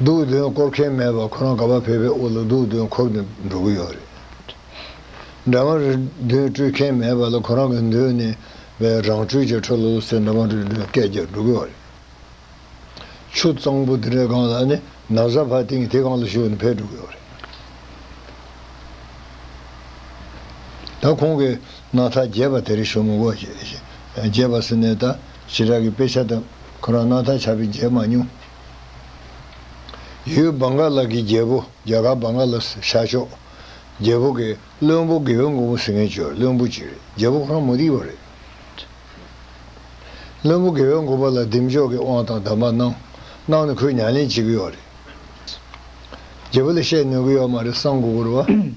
འདུག་དོན་སྐོར་མཁན་མེད་པར་ཁོ་རང་དགའ་བ་བས་པའི་དབུ་ལ་འདུག་དོན་འཁོར་ནས་འགྲོ་གི་ཡོད་རེད། འདྲ་མ་རེད་དོན་སྤྲོད་མཁན་མེད་པ་ལ་ཁོ་རང་གི་འདོད་ནས་བའི་རང་སྤྲོད་ཀྱི་འཕྲོ་ལོ་ལོ་ཚེ་འདྲ་མ་རེད་དོན་སྐད་རྒྱག་འགྲོ་གི་ཡོད་རེད། ཆུ་གཙང་པོ་དེ་འདྲའི་སྒང་ལ་ནི་ན་བཟའ་བྷ་ཏིང་དེ་སྒང་ལ་ཞུགས་ནས་ཕེབས་འགྲོ་གི་ཡོད་རེད། ད་ཁོང་གིས་ན་ཐ་རྒྱས་པ་དེ་རིང་ཞོ་མོ་འགོ་རྒྱས་པ་ཟེར་ནས་ད། ཞི་དྲག་གི་དཔེ་ཆ་དང་ཁོ་རང་སྣང་ཐག་ཆགས་པས་མཇལ་མ་མྱོང། ཡུལ་སྦ་འགག་ལགས་ཀྱི་རྒྱལ་པོ་རྒྱ་གར་སྦ་འགག་ལགས་ཤར་ཕྱོགས། རྒྱལ་པོ་གི་བློན་པོ་དགེ་བའི་མགོན་པོ་ཟེར་མཁན་ཇོ་བློན་པོ་གཅིག་རེད་རྒྱལ་པོ་ཁོ་རང་མུ་རིག་བ་རེད། བློན་པོ་དགེ་བའི་མགོན་པོ་ལ་ལྡེམ་འཇོག་གི་དབང་དང་བདམས་པ་གནང། གནང་ནས་ཁོས་ཉང་ལེན་བྱེད་ཀྱི་ཡོག་རེད། རྒྱལ་པོ་ལ་བཤད་ནོན་གྱི་ཡོག་མ་རེད་སང་དགོ་དགོ་རུ་བ།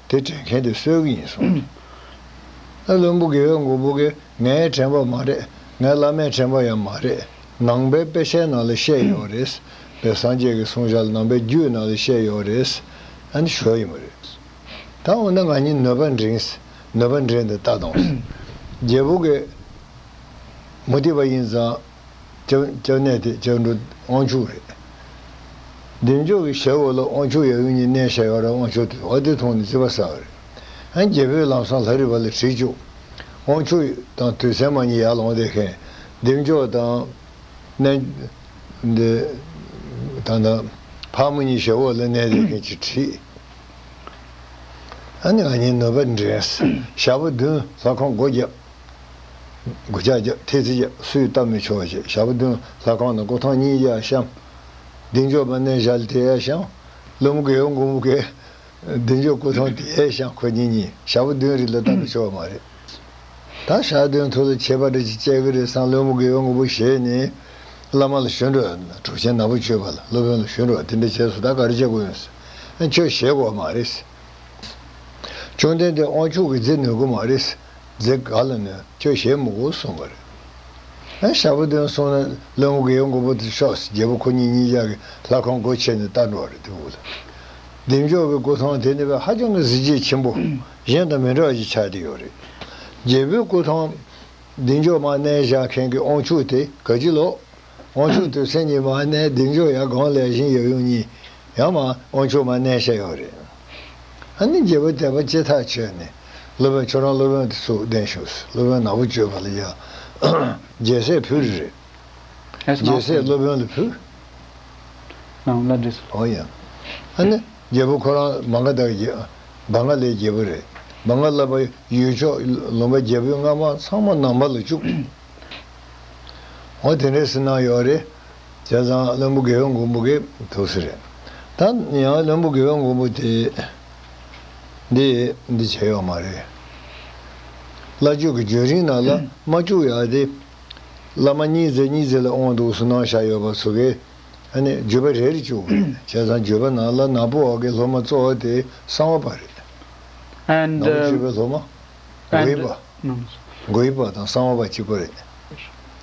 དེ་དྲན་མཁན་དེ་གསོད་གི་ཡིན་གསུངས། ཨེ་བློན་པོ་དགེ་བས་མགོ་སྦུག་གིས་ངའི་དྲན་པ་མ་རེད་ངའི་བླ་མའི་དྲན་པ་ཡང་མ་རེད། ནང་པའི་དཔེ་ཆའི་ནང་ལ་བཤད་ཡོད་རེད། བའི་སངས་རྒྱས་ཀྱི་གསུང་བཞག་ནང་པའི་རྒྱུད་ནང་ལ་བཤད་ཡོད་རེད། ཨ་ནི་ཞོར་ཡིན་མ་རེད། ད་འོ་ན་ང་གཉིས་ནོད་པ་འདྲེན། ནོད་པ་འདྲེན་དེ་ལྟ་དང། རྒྱལ་པོ་དགེ། མུ་ཏིག་པ་ཡིན་ཙང། ལྕགས་གནས་དེ་ལྕགས་འགྲོ་དབང་ཕྱུག་རེད། འདེམས་ཆོག་གི་ཞལ་འོ་ལོ་དབང་ཕྱུག་ཡབ་ཡུམ་གཉིས་གནས་ཞལ་ཡོ་ར་དབང་ཕྱུག་དེ་བ་དེ་མཐོང་ནས་ཅི་བ་ཟ་བ་རེད། ཨན་རྒྱལ་པོའི་ལམ་སང་ལྷ་རི་བ་ལ་དྲིས་ཆོག་དབང་ཕྱུག་དང་དུས་མཚན་མ་གཉིས་ཡར་ལོངས་བསྡད་མཁན་འདེམས་ཆོག་དང། ནན། འདི། ད་ནི། ཕག་མོ་གཉིས་ཞལ་འོ་ལོ་གནས་བསྡད་མཁན་གྱི་དྲིས། ཨན་ང་གཉིས་ནོད་པ་འདྲེན། ཞག་པོ་བདུན་ལྷ་ཁང་སྒོ་བརྒྱབ། དགུ་ལྕགས་བརྒྱ། ཐེལ་ཙེ་བརྒྱ། སུས་བལྟ་མི་ཆོག་ཅེས་ཞབས་བདུན་ལྷ་ཁང་དང་སྐུ་ཐང་གཉིས་བརྒྱ་བཤམས། གདིང་འཇོག་པ་གནས་བཞག་དེ་ཡས་ཤང། ཀླུ་མགལ་ཨོ་མགུ་མུ་གེ། གདིང་འཇོག་སྐུ་ཐང་དེ་ཡས་ཤང་ཁོ་གཉིས་གཉིས་ཞབས་བདུན་རིགས་ལ་བལྟ་མི་ཆོག་མ་རེད། ད་ཞག་བདུན་ཐུགས་ལ་ཁྱད་པར་རེ་ཅིག་སྤྱད་ཀྱི་རེད་བསམ་ཀླུ་མུ་གེ་ཨོ་མགུ་མུ་གེ་ནི། བླ་མ་ལ་ཞུ་འདྲོགས་གྲུབ་ཆེན་ནག་པོ་བཅོས་པ་ལ་སློབ་དཔོན་ལ་ཞུ་འདྲོགས་དེ་འདྲ་བྱས་སུ་ད་ག་རེ་བྱེད་དགོས་ཡོད་སྲིད། ཁྱོད་ཞེད་དགོས་མ་རེད། བཅོམ་ལྡན་འདས་དབང་ཕྱུག་གིས་མཛད་ནུས་དགོས་མ་རེད། རྫས་ག་ལ་ནས་ཁྱོད་གཞས་མི་གོ་གསུངས་པ་རེད། ཨེ་ཞབས་བདུན་གསུངས་ན་བློན་པོ་གའི་མགོ་བོ་དེ་ཤོག་ཟེར་རྒྱལ་པོ་ཁོ་གཉིས་གཉིས་ཅག་གིས་ལྷ་ཁང་སྒོ་ཕྱེས་ནས་བལྟ་འགྲོ་བ་རེད་དེ་འུ་ལ་བདེ་མཆོག་གི་སྐུ་ཐང་དེ་ནི་བས་ཧ་ཅང་གི་གཟི་བརྗིད་ཆེན་པོ་གཞན་དང་མི་འདྲ་བ་ཞིག་ཆགས་བསྡད་ཡོད་རེད། རྒྱལ་པོའི་སྐུ་ཐང། བདེ་མཆོག་མ་གནས་བཞག་མཁན་གྱི་ཨོང་ཕྱུག་དེ་ག་ཅི་ལོག། དབང་ཕྱུག་ཏུ་སེམས་ཉིད་མ་གནས་གདེང་འཇོག་ཡང་སྒང་ལས་གཞན་ཡབ་ཡུམ་གཉིས། ཡང་མ། དབང་ཕྱུག་མ་གནས་བཤད་ཡོད་རེད། ཨ་ནི་རྒྱལ་པོ་དད་པ་སྐྱེ་ཐག་ཆོད་ནས། སློབ་དཔོན་ཁྱོད་རང་སློབ་དཔོན་དུ་ཚུགས་གདན་ཞུགས། སློབ་དཔོན་ནག་པོ་བཅོས་པ་ལ་ཡང། རྒྱལ་སྲས་ཕུལ་རེ་རེད། རྒྱལ་སྲས་སློབ་དཔོན་ལ་ཕུལ། ནང་བླ་འདྲེ་སོགས། འོང་ཡང། ཨ་ནི། རྒྱལ་པོ་ཁོ་རང་མ་འགའ་དག་རྒྱལ། བ་འགའ་ལས་རྒྱལ་པོ་རེད། མ་འགའ་བསླབ་པ། ཡུལ་ཕྱོགས་ལུང་པ་རྒྱལ་པོའི་རྔ་མ་ཚང་མ་ནང་པ་ལ་བཅུག། ཨོ་དེ་འདྲའི་སེམས་སྣང་ཡོད་རེད། བྱས་ཙང་བློན་པོ་དགེ་བའི་མགོན་པོ་གི་ཐུགས་སྲས་རེད། ད་ཡང་བློན་པོ་དགེ་བའི་མགོན་པོ་དེས་འདི་འདི་བྱས་ཡོད་མ་རེད། བླ་མཆོད་ཀྱི་རྒྱུན་རིང་ནང་ལ་མ་བཅུག་ཡ་དེ། བླ་མ་གཉིས་བརྩེགས་གཉིས་བརྩེགས་ལ་འོང་འདུག་སུན་སྣང་བཞག་ཡོད་པ་ཚོ་གིས་ནི་བརྒྱུད་པ་རེ་རེ་བཅུག་པ་རེད། བྱས་ཙང་བརྒྱུད་པ་ནང་ལ་ནག་པོ་འོག་གི་སློབ་མ་གཙོ་བོ་དེ་གསང་བ་པ་རེད། ནག་པོ་བརྒྱུད་པའི་སློབ་མ། དགོས་པ། དགོས་པ་དང་གསང་བ་བ་གཅིག་པ་རེད།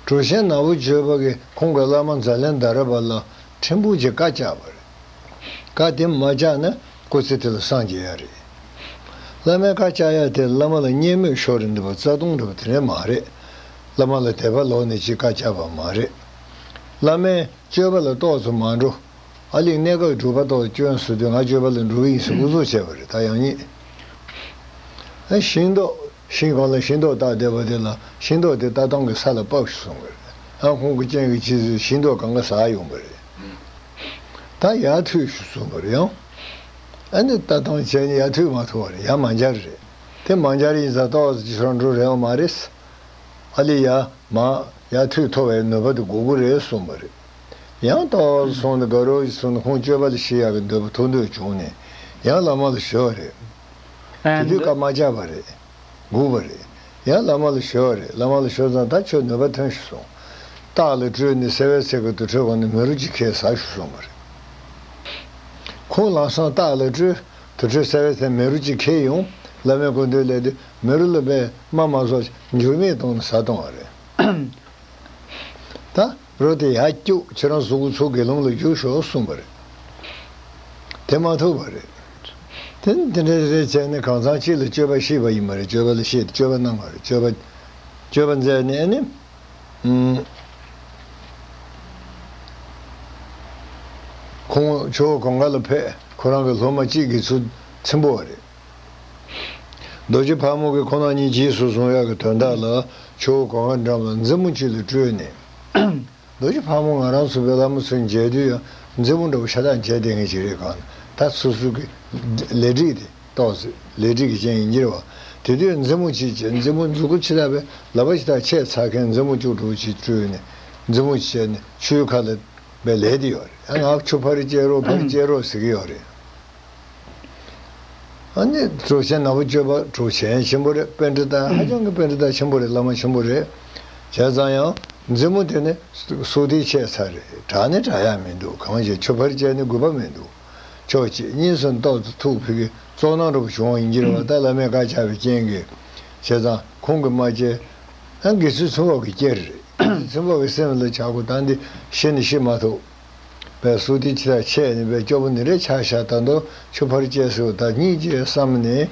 གྲུ་ཆེན་ནག་པོ་བརྗོད་པ་གིས་ཁོང་གི་བླ་མ་མཛའ་ལན་ད་ར་བ་ལ་ཕྲན་བུ་གཅིག་བཀའ་བཅག་པ་རེད། བཀའ་དེ་མ་བཅག་ན་སྐུ་ཚེ་དེ་ལ་སངས་རྒྱས་ཡ་རེད། བླ་མའི་བཀའ་བཅག་ཡ་དེ་བླ་མ་ལ་བརྙས་སྨོད་ཤོར་རེད་འདི་བ་རྩ་ལྟུང་རེད་བ་དེ་འདྲ་མ་རེད། བླ་མ་ལ་དད་པ་ལོག་ནས་གཅིག་བཀའ་བཅག་པ་མ་རེད། བླ་མའི་སྤྱོད་པ་ལ་རྟོག་ཚོ་མ་འགྲོ། ཨ་ལིག་གནད་འགག་གི་སྒྲུབ་པ་རྟོག་སྐྱོན་བཟོ་དུས་ང་སྤྱོད་པ་ལ་འགྲོ་གི་ཡིན་ཟེར་ཨུ་ཚུགས་བྱས་པ་རེད་ད་ཡང་རྙེད། ཤིང་ཏོག། ཤིང་གང་ལ་ཤིང་ཏོག་བཏགས་བསྡད་པ་དེ་ལ་ཤིང་ཏོག་དེ་ལྟ་སྟངས་ཀྱི་ས་ལ་སྤགས་སུ་སོང་གི་རེད། ཨང་ཁོང་གི་སྤྱན་གྱི་ཕྱི་ཚུལ་ཤིང་ཏོག་གང་ག་ཟག་ཡོང་གི་རེད། ད་ཡ་ཐུད་ཞུ་སོང་གི་རེད་ཨང། ཨ་ནི་ལྟ་སྟངས་ཅན་ནི་ཡ་ཐུད་མ་ཐུ་བ་རེད་ཡ་མ་འཇར་རེད། དེ་མ་འཇར་ཡིན་ཙང་ཏོག་ཅི་ཧྲང་འགྲོ་རེའང་མ་རེད། ཨ་ལི་ཡ། མ། ཡ་ཐུད་ཐོ་བའི་ནུས་པ་དེ་དགོ་གི་རེད་སོང་གི་རེད། ཡང་དག་བར་སོང་ནས་དགའ་རོགས་ཀྱི་ཚུར་ནས་ཁོང་སྤྱོད་པ་ལ་ཤི་ཡག་གི་འདོད་པ་ཐུག་འདོད་བྱུང་ནས་ཡང་ལ་མ་ལ་བྱོལ་བ་རེད། དེ་དུས་ཀ་མ་ཅག་པ་རེད། སྒུག་པ་རེད། ཡང་ལ་མ་ལ་བྱོལ་བ་རེད་ལ་མ་ལ་བྱོལ་ཙང་ད་ཁྱོད་ནུས་པ་ཐོན་ཞུ་སོང། སྟག་ལ་སྤྲུལ་ནས་སེ་བའི་ཚལ་གྱི་དུར་ཁྲོད་གང་ནས་མི་རོ་གཅིག་ཁས་བཟའ་ཞུ་སོང་བ་རེད། ཁོང་ལངས་སོང་སྟག་ལ་སྤྲུལ། དུར་ཁྲོད་སེ་བའི་ཚལ་མི་རོ་གཅིག་ཁས་ཡོང། བླ་མའི་སྐུ་མདུན་ལས་དེ་མི་རོ་ལ་པདྨ་མ་སོགས་འགྱུར་མེད་གཏོང་ནས་བཟའ་གཏོང་བ་རེད། ད། རོ་དེ་ཡར་སྐྱུགས་ཁྱེད་རང་གཟུགས་ཚོ་དགེ་སློང་ལ་བསྒྱུར་ཤོག་གསུངས་པ་རེད། དེ་མ་ཐུབ་པ་རེད། དེ་ནི་དེ་འདྲའི་རེ་བཅད་ནས་གང་ཚང་གཅིག་ལ་སྤྱོད་པ་ཤེས་པ་ཡིན་པ་རེད་སྤྱོད་པ་ལ་ཤེས་ཏེ་སྤྱོད་པ་གནང་བ་རེད་སྤྱོད་པ། སྤྱོད་པ་མཛད་ནས་ནི། ཁོང་ཆོས་གོང་ག་ལ་ཕེབས་ཁོ་རང་གི་སློབ་མ་གཅིག་གིས་ཚུལ་ཚིམ་པོ་བ་རེད། རྡོ་རྗེ་ཕག་མོ་གི་ཁོ་ན་ཉིད་གྱིས་སུ་གསུང་ཡབ་ཀྱི་དོན་དག་ལ་ཆུ་བོ་གོ་བ་འགྲམ་ལ་མཛེ་མོ་གཅིག་ལ་སྤྲུལ་ནས། རྡོ་རྗེ་ཕག་མོ་ང་རང་ཚོ་བོད་ལྷ་མོ་ཚོས་མཇལ་དུས་ཡང་མཛེ་མོ་འདྲ་བོ་ཤ་སྟག་མཇལ་བདེ་ངེས་ཅིག་རེད་གང་ལྟར་ད་སུ་སུ་གི་ལས་འགྲིག་དེ་རྟོགས་ཟེར་ལས་འགྲིག་གི་རྐྱེན་ཡིན་གྱིར་བ་དེ་དུས་མཛེ་མོ་གཅིག་བྱས་མཛེ་མོ་མཛུ་གུ་ཆེ་དག་པའི་ལག་པ་ཆེ་དག་ཆས་ཚར་མཁན་མཛེ་མོ་བཅུ་དྲུག་ཅིག་སྤྲུལ་ནས་མཛེ་མོ་བྱས་ནས་ཆུའི་ཁ་ལ་བའི་ལས་དེ་ཡོད་རེད་ཡང་ང་ཆུ་ཕར་བསྐྱལ་རོགས་ཕར་བསྐྱལ་རོགས་ཟེར་གྱི་ཡོད་རེད། གྲོ་ཞན་ནག་པོ་སྤྱོད་པ་གྲོ་ཞན་ཆེན་པོ་རེད་དཔེ་འདི་དག་ཧ་ཅང་གི་དཔེ་འདི་དག་ཆེན་པོ་རེད་བླ་མ་ཆེན་པོ་རེད། བྱས་ཙང་ཡང་མཛེས་མོ་དེ་ནི་སུག་རྟིའི་ཆད་ཚ་རེད་གྲགས་ནི་གྲགས་ཡག་མི་འདུག་གང་ཞིག་ཆུ་ཕར་བཅད་ནི་དགོས་པ་མི་འདུག་ཆོག་གཅིག་གཉིས་སུ་འདོག་ཏུ་ཐུག་ཕི་གི་ཙོག་ནང་རུབ་བྱུང་བ་ཡིན་གྱི་རེད་བ་ད་བླ་མས་བཀའ་བཅག་པའི་རྐྱེན་གི་བྱས་ཙང་ཁོང་གི་མ་བཅད་ན་དགེ་ཚུལ་ཚོན་འབབ་གི་རྐྱེན་རེད་དགེ་ཚུལ་ཚོན་འབབ་གི་སེམས་ལ་བྱ་གོ་ད་འདི་ཤི་ནི་ཤི་མ་ཐུབ། པའི་སྲོལ་དེ་ཆེས་ཆེ་ཡིན་པས་སྐྱོ་པོ་ནི་རེ་ཆག་ཤ་ད་འདོ་ཆུ་ཕར་བཅད་སོས་ད་གཉིས་བཅད་བསམ་ནས།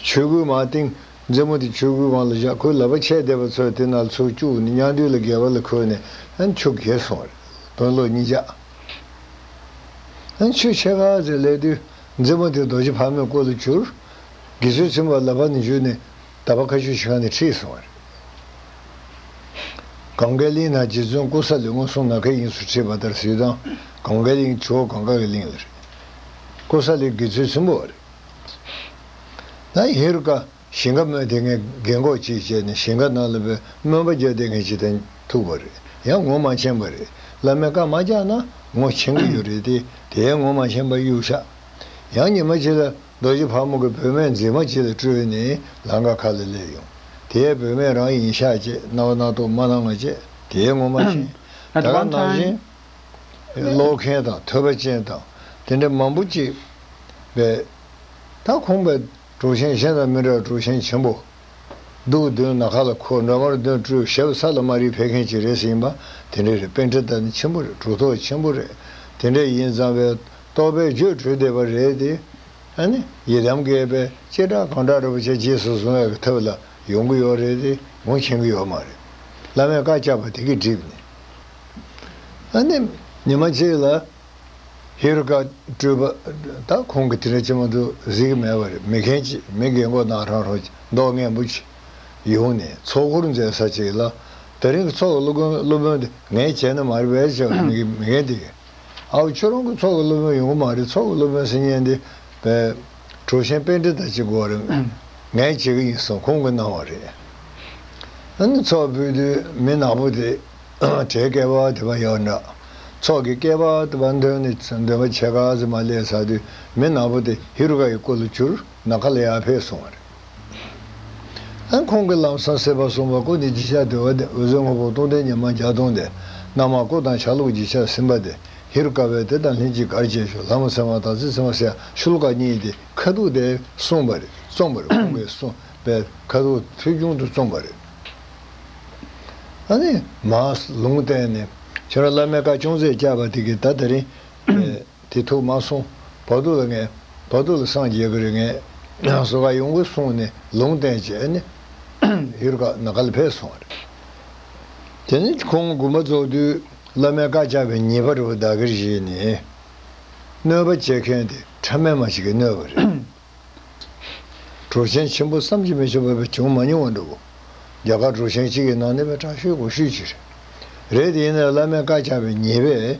ཆོས་གོས་མ་བཏིང། མཛེ་མོ་དེ་ཆོས་གོས་བང་ལ་བཞག་ཁོའི་ལབ་པ་ཆད་བསྡད་པ་ཚོས་དེ་ནག་ཚོས་བཅུག་ནས་ཉང་རྡུལ་ལ་བརྒལ་བ་ལ་ཁོས་ནས་ཨ་ཆུ་བརྒལ་སོང་བ་རེད་དོན་ལོ་གཉིས་ཆགས། ཆུ་ཕྱེད་ཀ་ཟེར་སླེབས་དུས་མཛེ་མོ་དེ་རྡོ་རྗེ་ཕ་མའི་སྐོར་ལ་བྱུར། དགེ་ཚུལ་ཚུན་པ་ལབ་པ་ནས་བཞུད་ནས་ད་བར་ཁ་ཆུ་བྱི་ཁ་ནས་ཁྲིད་སོང་བ་རེད། གངས་དཀར་གླིང་ན་རྗེ་བཙུན་ཀོ་ས་ལི་སྔོན་སོང་ནགས་ཁའི་དབྱིངས་སུ་ཁྲིད་པ་ལྟར་གཟིགས་སྟངས་གངས་དཀར་གླིང་ཆུ་བོ་གངས་དཀར་གྱི་གླིང་ལ་རེད། ཀོ་ས་ལི་དགེ་ཚུལ་ཆེན་པོ་བ་རེད། ད་ཧེ་རུ་ཀ་ཞིང་ཁ་སྨོན་དེ་སྔའི་རྒན་གོག་ཅིག་བྱས་ནས་ཞིང་ཁ་ནང་ལ་བོད་སྨོན་པ་རྒྱག་དེ་སྔའི་ཕྱི་ཐན་ཐུག་པ་རེད་ཡང་ངོ་མ་མཁྱེན་པ་རེད་བླ་མའི་བཀའ་མ་རྒྱག་ན་ངོ་མཁྱེན་གི་ཡོད་རེད་དེ་དེའི་ངོ་མ་མཁྱེན་པ་གཡུག་ཤག་ཡང་ཉི་མ་ཕྱི་ལ། རྡོ་རྗེ་ཕག་མོ་གི་བུད་མེད་མཛེས་མ་ཅིག་ལ་སྤྲོད་ནས་ལང་ཀ་ཁ་ལ་སླེབས་ཡོང། དེའི་བུད་མེད་རང་ཡིན་ཤག་ཅེས་རྣ་བ་རྣག་ཏོག་མ་ལྷང་ངེ་ཅེས་དེའི་ངོ་མ་ཆེན། ད་ག་ནང་བཞིན། ཀློག་མཁན་དང་ཐོས་པ་ཅན་དང་དེ་འདྲ་མང་པོ་ཅིག་པས། ད་ཁོང་པའི་གྲོགས་ཆེན་གཞན་དང་མི་འདྲ་བར་གྲོགས་ཆེན་ཆེན་པོ། སྡུག་གདོན་ནག་ཁ་ལ་ཁོ་འདྲ་མར་གདོན་སྤྲོད་ཞབས་ས་ལ་མ་རིག་འཕེལ་མཁན་ཅིག་རེད་ཟེར་ཡིན་པ་དེ་འདྲ་རེད་དཔེ་འདྲ་ད་ནི་ཆེན་པོ་རེད་གྲོགས་ཐོག་ཆེན་པོ་རེད་དེ་འདྲ་ཡིན་ཙང་བས་རྟོག་པའི་རྒྱུད་གྲོལ་བདེ་བར་རེད་དེ། ཡི་དམ་བསྐལ་པའི་སྤྱི་བསྒྲགས་གང་དྲག་རེད་པོ་ཆེ་རྗེས་སུ་བཟུང་བའི་ཐབས་ལ་ཡོང་གི་ཡོད་རེད་དེ་གོང་ཕྱིན་གི་ཡོད་མ་རེད། བླ་མས་བཀའ་བཅག་པ་དེ་གི་སྒྲིབ་ནས། ཉི་མ་གཅིག་ལ་ཧེ་རུ་ཀ་སྤྲུལ་པ་དང་ཁོང་གི་དེ་འདྲ་ཅི་མ་འདུག་གཟིགས་ཀྱི་མེད་པ་རེད་མི་མཁན་གཅིག་མི་རྒན་མགོ་ནག་ཁྲང་ཧྲོ་མདོག་ངན་པོ་གཅིག་ཡོང་ནས་ཚོགས་འཁོར་མཛད་ས་གཅིག་ལ། ད་རིང་གི་ཚོགས་སློབ་དཔོན་དེ་ངའི་བྱས་ན་མ་རེད་བས་ཅག་མི་རྒན་དེ། ཨའོ་ཁྱོད་རང་གི་ཚོགས་ཀྱི་སློབ་དཔོན་ཡོང་གི་མ་རེད་ཚོགས་ཀྱི་སློབ་དཔོན་སེམས་ཉན་དེ། གྲོ་ཞན་དཔེ་འདྲི་དང་ཅིག་གོ་རེད། ངས་བྱེད་ཀྱི་ཡིན་གསུངས་ཁོང་གིས་གནང་བ་རེད། ཨ་ནི་ཚོགས་ཕུད་དུས་མི་ནག་པོ་དེ། གྲའི་སྐལ་བ་དེ་པ་ཡག་འདྲ། ཚོགས་ཀྱི་སྐལ་བ་དེ་པ་འདོན་ནི་འདོན་པ་བྱས་ག་ཟེ་མ་ལས་ས་དུས་མི་ནག་པོ་དེ་ཧི་རུ་ཀ་ཡི་སྐུ་ལ་བྱུར་ནག་ག་ལ་ཡག་ཕེད་གསུངས་བ་རེད། ཨང། ཁོང་གིས་ལམ་སང་སེར་བ་གསུམ་པ་ཀོ་ནི་བརྗིད་ཆགས་དེ་བ་དེ་འོད་ཟེར་སྔོ་པོ་སྟོང་ལྡན་ཉི་མ་བརྒྱ་སྟོང་དེ་རྣམས་མ་ཀོ་དང་ཆ་ལུགས་བརྗིད་ཆགས་སིམ་པ་དེ་ཧེ་རུ་ཀ་བས་དེ་དང་ལྷན་ཅིག་གར་བྱེད་ཞོ་ལྷ་མོ་ཚེ་མ་དང་ཙི་ཙི་མ་སེ་ཤུལ་ཀ་གཉིས་དེ་ཁ་ཐུག་དེ་གསུངས་པ་རེད་རྩོམ་པ་རེད་ཁོང་གིས་གསུངས་པའི་ཁ་ཐུག་ཐོལ་བྱུང་དུ་རྩོམ་པ་རེད། ཨང། མ། ལུང་བསྟན་ནི། ཁྱོད་རང་བླ་མའི་བཀའ་ཅུང་ཟད་བསྐྱལ་བ་དེ་གིས་ད་ད་རིང། དེ་ཐོག་མ་སོང་བར་དུ་ལ་ངས་བར་དུ་ལ་སངས་རྒྱས་ཀྱི་རིགས་ངན་གསོ་ག་ཡོང་གི་གསུངས་ནས་ལུང་བསྟན་བྱས་ནས་ཡུལ་ཀ་ན་ག་ལ་ཕེབས་སོང་བ་རེད། དེ་ནས་ཁོང་དགུ་མ་རྫོགས་དུས་བླ་མའི་བཀའ་བཅག་པའི་ཉིན་པར་བོད་ཟླ་གིར་བཞེས་ནས་གནོད་པ་བྱེད་མཁན་དེ་ཕྲ་མེན་མ་ཞིག་གིས་གནོད་པ་རེད། གྲོ་ཆེན་ཆེན་པོ་བསམ་གྱིས་མི་ཁྱབ་པ་བས་བྱུང་མ་མྱོང་བ་འདྲ་བོ། རྒྱ་གར་གྲོ་ཆེན་གཅིག་གི་ནང་ནས་བས་དྲག་ཤོས་གོ་ཤོས་གཅིག་རེད། རེད་དེ་ཡིན་ན་བླ་མའི་བཀའ་བཅག་པའི་ཉིན་པས་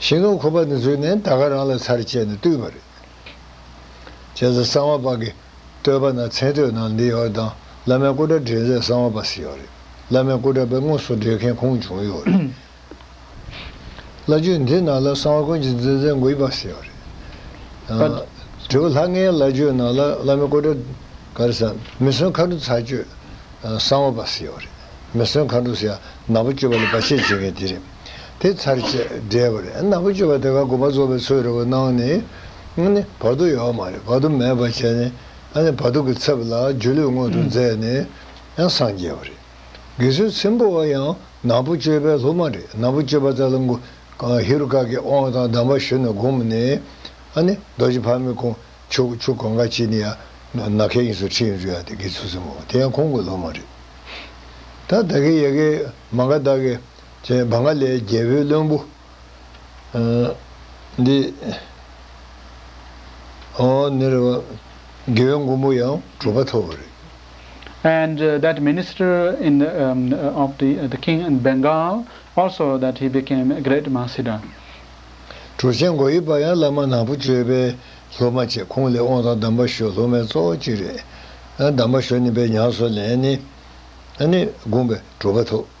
ཞིང་ནོར་ཁོ་པ་ནི་ཚུལ་ནི་ད་ག་རང་ལ་ཚར་བཅད་ནས་བཏུས་པ་རེད། བྱས་ཙང་གསང་བ་པ་གིས་བསྟོད་པ་ན་མཚན་བསྟོད་ནང་འདི་ཡོད་དང་བླ་མའི་སྐུ་དགྲ་འདྲེན་མཛད་གསང་བ་པ་སི་ཡོད་རེད། བླ་མའི་སྐུ་དགྲ་པའི་དངོས་སུ་འདྲེན་མཁན་ཁོང་བྱུང་ཡོད་རེད། བླ་རྒྱུད་འདི་ནང་ལ་གསང་བ་དཀོན་གྱི་འཛིན་མཛད་འགུས་པ་སི་ཡོད་རེད། དྲི་བ། ལྷ་ལྔའི་བླ་རྒྱུད་ནང་ལ་བླ་མའི་སྐུ་དགྲ། ག་རེ་ས། མི་བསོད་མཁའ་འགྲོ་ཚར་གཅོད་གསང་བ་པ་སི་ཡོད་རེད། མི་བསོད་མཁའ་འགྲོ་སི་ཡ་ནག་པོ་གཅོད་པ་ལ་བར་ཆད་བྱེད་མཁན་དེ་རེད། དེ་ཚར་བཅད་བསྒྲལ་བ་རེད། ནག་པོ་སྤྱོད་པ་དེ་ག་དགོས་པ་རྫོགས་པའི་ཚུལ་རེད་བ་སྣང་ནི། ནི། བར་དོ་ཡོད་མ་རེད་བར་དོ་མེད་པར་བྱས་ནི། ནི་བར་དོ་གི་ཚབ་ལ་སྒྱུ་ལུས་མངོན་དུ་མཛད་ནི། ཡང་སངས་རྒྱས་བ་རེད། དགེ་ཚུལ་ཆེན་པོ་བ་ཡང་ནག་པོ་སྤྱོད་པའི་ལྷུ་མ་རེད་ནག་པོ་སྤྱོད་པ་ཙལ་ལ་མགུ། ཧེ་རུ་ཀ་གི་དབང་དང་གདམས་པ་ཞུ་ནི་བསྒོམ་ནི། ནི། རྡོ་རྗེ་ཕག་མོའི་ཁུང་བྱུག་བྱུག་གོང་ཁ་ཅིག་ནི་ཡང། ནག་ཁའི་དབྱིངས་སུ་ཁྲིད་ཡོང་རྒྱུ་ཡང་དེ་དགེ་ཚུལ་ཆེན་པོ་བ་དེ་ཡང་ཁོང་གི་ལྷུ་མ་རེད། ད་བདག་གི་ཡལ་གའི་མ་འགའ་བདག་གི། ཅེས་བཱང་ག་ལའི་རྒྱལ་པོའི་བློན་པོ་འདི། རྒྱལ་བའི་མགོན་པོ་ཡང་གྲུབ་པ་ཐོབ་བོ་རེད། And that minister in the of the the king in Bengal also that he became a great Mahasiddha. གྲུ་ཆེན་མགོ་ཡི་པ་ཡང་བླ་མ་ནག་པོ་སྤྱོད་པའི་སློབ་མ་ཆེ་ཁོང་ལས་དབང་དང་གདམས་པ་ཞོ་སློབ་མའི་གཙོ་བོ་གཅིག་རེད། གདམས་པ་ཞོ་ནི་པའི་ཉང་སོ་ལན་ནི་ནི་དགོངས་པས་གྲུབ་པ་ཐོབ།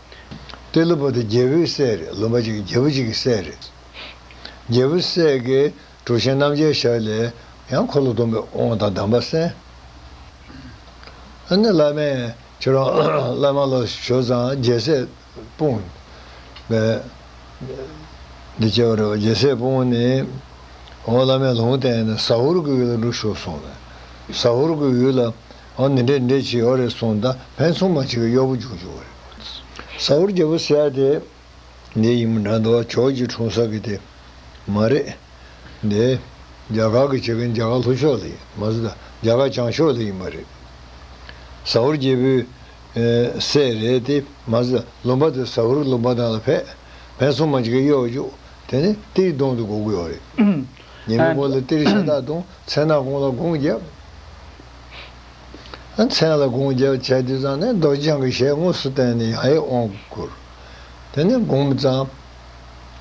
ཏེ། ལུས་པོ་དེ་རྒྱལ་པོའི་སྲས་རེད་ལུས་པ་གཅིག་རྒྱལ་པོ་གཅིག་གི་སྲས་རེད། རྒྱལ་པོའི་སྲས་ཀྱི་གྲུ་ཆེན་རྣམ་རྒྱལ་ཞབས་ལས་ཡང་འཁོར་ལོ་སྡོམ་པའི་དབང་དང་གདམས་པ་གསན། ཨ་ནི་བླ་མས་ཁྱོད་རང་བླ་མ་ལ་ཞོ་ཙང་རྒྱལ་སྲས་སྤུངས། འདི་སྐྱེ་བ་རེད་བ་རྒྱལ་སྲས་སྤུངས་ནས། འོ་བླ་མས་ལུང་བསྟན་ནས་ཟ་ཧོར་གྱི་ཡུལ་ལ་འགྲོ་ཞོག་གསུངས་ནས་ཟ་ཧོར་གྱི་ཡུལ་ལ། ཨོ་ནི་འདྲེ་འདྲེ་བྱེད་ཨོ་རེད་སོང་ད་བན་ཚོང་མ་གཅིག་གི་གཡོག་པོ་བྱུང་བྱུང་བ་རེད། ས་ཧོར་རྒྱལ་པོ་ཟེར་ཡ་དེ། འདི་ཡིན་མོ་འདྲ་འདུག་ཨ་ཁྱོད་ཀྱི་འཁྲུངས་ས་གི་དེ། མ་རེད། འདི། རྒྱ་གར་གི་བྱེད་མཁན་རྒྱ་གར་ལྷོ་ཕྱོགས་ལ་ཡིན། མ་ཟད། རྒྱ་གར་བྱང་ཕྱོགས་ལ་ཡིན་པ་རེད། ས་ཧོར་རྒྱལ་པོའི། སྲས་རེད་དེ། མ་ཟད། ལུང་པ་དེ་ས་ཧོར་གྱི་ལུང་པ་དག་ལ་ཕེབས། བན་ཚོང་མ་གཅིག་གི་གཡོག་བཅུག། དེ་ནས་ཏིར་གདོང་དུ་སྒོ་དགོས་བ་རེད། ཉེ་མི་སྒོ་ལ་ཏིར་ཤ་སྟག་བཏུང། མཚན་ནག་ཀོང་ལ་དགོངས་བརྒྱབ། མཚན་ལ་དགོངས་རྒྱབ་བྱས་དུས་ཙང་ནས་རྡོ་རྗེ་འཆང་གི་ཞལ་དངོས་སུ་བསྟན་ནས་ཡང་ཡིད་འོང་བསྐུར། དེ་ནས་འགུམ་ཙང།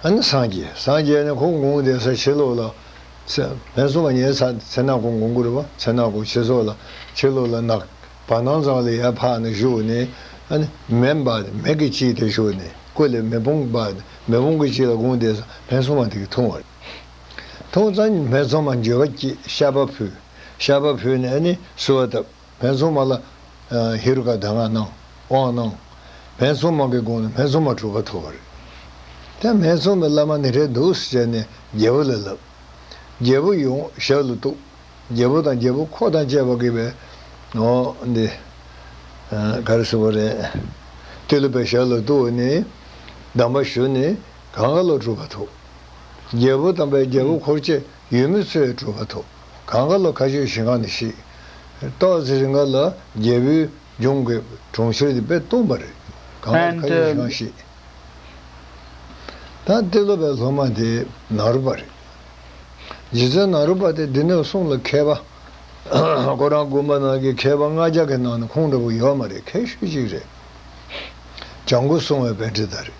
སངས་རྒྱས་སངས་རྒྱས་ནས་ཁོང་འགུམ་བསྡད་ས་ཕྱི་ལོགས་ལ། བན་སྲུང་བ་ཉལ་ས་ཚེ་ནག་གོང་གོང་བསྐུར་བ་ཚེ་ནག་གོང་ཕྱི་སོགས་ལ་ཕྱི་ལོགས་ལ་ནག། བ་ནང་ཙང་ལ་ཡར་འཕགས་ནས་བཞུགས་ནས། མེ་འབར་མེད་ཀྱི་དཀྱིལ་དེར་བཞུགས་ནས་སྐུ་ལས་མེ་དཔུང་འབར་ནས་མེ་དཔུང་གི་དཀྱིལ་ལ་འགུམ་བསྡད་ས་བན་སྲུང་བ་དེ་གིས་འཐུང་བ་རེད། འཐུང་ཙང་བན་སྲུང་བ་འགྱོད་པ་སྐྱེས་ཤ་བ་ཕུད། ཤ་བ་ཕུལ་ནས་ནི་བསུ་བ་བཏབ། བན་སྲུང་མ་ལ། ཧེ་རུ་ཀ་གདམས་ངག་གནང། དབང་གནང། བན་སྲུང་མ་གི་དགོངས་ནས་བན་སྲུང་མ་གྲུབ་པ་ཐོབ་པ་རེད། དེ་བན་སྲུང་མས་བླ་མ་ནི་རེད་འདུག་ཟེར་ནས་རྒྱལ་པོ་ལ་ལབ། རྒྱལ་པོ་ཡོང་ཞབས་ལ་གཏུགས། རྒྱལ་པོ་དང་རྒྱལ་པོ་འཁོར་དང་བཅས་པ་དགེ་བའི། འོ། འདི། ག་རེ་ཟེར་བ་རེད། ཏི་ལུ་པའི་ཞབས་ལ་གཏུགས་ནས་ནི། གདམས་པ་ཞུ་ནས་གངྒཱ་ལ་གྲུབ་པ་ཐོབ། རྒྱལ་པོ་དང་བས་རྒྱལ་པོ་འཁོར་བཅས། ཡུལ་མི་ཚོས་སྤྲུལ་པ་ཐོབ། གང་ག་ལ་ཁ་ཆོད་ཞིང་གང་ནས་བཤིགས། ཏོག་གཟི་རི་འགར་ལ་རྒྱལ་པོའི་ལྗོངས་ཀྱི་གྲོང་ཁྱེར་དེ་པས་སྟོང་པ་རེད། གང་ག་ལ་ཁ་ཆོད་ཞིང་གང་བཤིགས། ད་ཏི་ལོ་པའི་སློབ་མ་དེ་ནཱ་རུ་པ་རེད། རྗེ་བཙུན་ནཱ་རུ་པ་དེ་སྡེ་སྣོད་གསུམ་ལ་མཁས་པ། ཁོ་རང་དགོན་པ་ནང་གི་མཁས་པ་ལྔ་བརྒྱ་གི་ནང་ནས་ཁོང་འདྲ་བོ་ཡོད་མ་རེད་མཁས་ཤོས་གཅིག་རེད། བྱང་ཁུ་སྲུང་བའི་དཔལ་ཁྲི་ཟླ་རེད།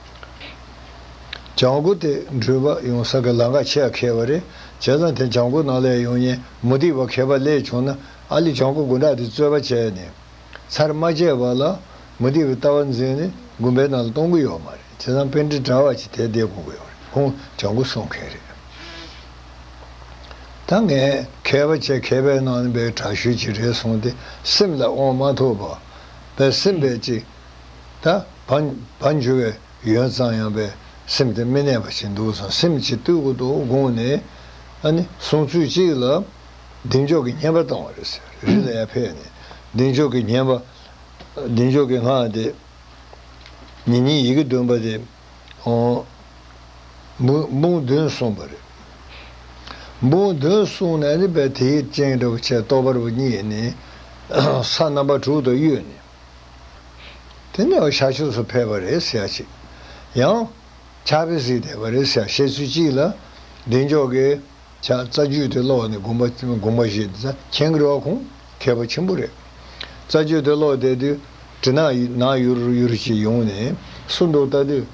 བྱང་སྒོ་དེ་འགྲུལ་པ་ཡོང་ས་གི་ལ་འགག་ཆེས་ཁེ་བ་རེད་བྱས་ཙང་དེ་བྱང་སྒོ་ནང་ལས་ཡོང་ཉེན་མོ་སྡིག་པ་ཁེ་པ་ལས་བྱུང་ན་ཨ་ལི་བྱང་སྒོ་དགུ་འདྲ་དེ་རྩོད་པ་བྱས་ནས་ཚར་མ་བཅད་པ་ལ་མོ་སྡིག་པའི་ལྟ་བ་འཛིན་ནས་དགོན་པའི་ནང་ལ་གཏོང་གི་ཡོད་མ་རེད་བྱས་ཙང་དཔེ་འདྲི་དྲ་བ་ཆེ་དེ་བསྡད་དགོ་གི་ཡོད་རེད་ཁོང་བྱང་སྒོ་སྲུང་མཁན་རེད་ད་ངས་ཁེ་བ་ཆེ་ཁེ་པའི་ནང་ལ་འབའི་དྲག་ཤུལ་གྱི་རེད་གསུངས་ཏེ་སེམས་ལ་དབང་མ་ཐོབ་པ་བས་སེམས་པས་ཅི། ད་བར་འཇུ་བའི་ཡོན་གཙང་ཡང་པའི་སེམས་དེ་མི་གནས་པ་ཞིག་འདུག་བསམ་སེམས་ཀྱི་སྟོད་གུ་དོག་དགོངས་ནས་ཨ་ནི་སོང་ཚུལ་གཅིག་ལ་གདེང་འཇོག་གི་བརྙན་པ་བཏང་བ་རེད་ཟེར་རི་ལ་ཡར་ཕེབས་ནས་གདེང་འཇོག་གི་བརྙན་པ་གདེང་འཇོག་གི་སྔགས་དེ་ཉིན་གཉིས་ཡི་གེ་བདུན་པ་དེ་འབུངས་བདུན་གསུངས་པ་རེད། འབུངས་བདུན་གསུངས་ནས་ཨ་ནི་བས་དེའི་སྤྱན་རབ་བྱས་རྟོགས་པ་རབ་བརྙེས་ནས་ས་རྣམ་པ་དྲུག་དང་གཡོས་ནས། དེ་ནས་བྱ་ཕྱོགས་སུ་ཕེབས་པ་རེད་ཟེར་ཅིག། ཡང། ཕྱག་བེ་སྲིད་བསྡད་པ་རེད་ཟེར་བཤད་ཚུལ་གཅིག་ལ། བདེ་མཆོག་གིས། ཕྱག་རྩ་རྒྱུད་དེ་ཀློག་ནས་དགོངས་པ་དགོངས་པ་བཞེས་ཏེ་རྩ་མཁྱེན་དགེ་བ་ཁུངས་མཁས་པ་ཆེན་པོ་རེད། རྩ་རྒྱུད་དེ་ཀློག་བསྡད་དུས། དྲི་ནག་ནག་ཡུར་ཡུར་ཅིག་ཡོང་ནས་སུ་འདུག་བལྟ་དུས།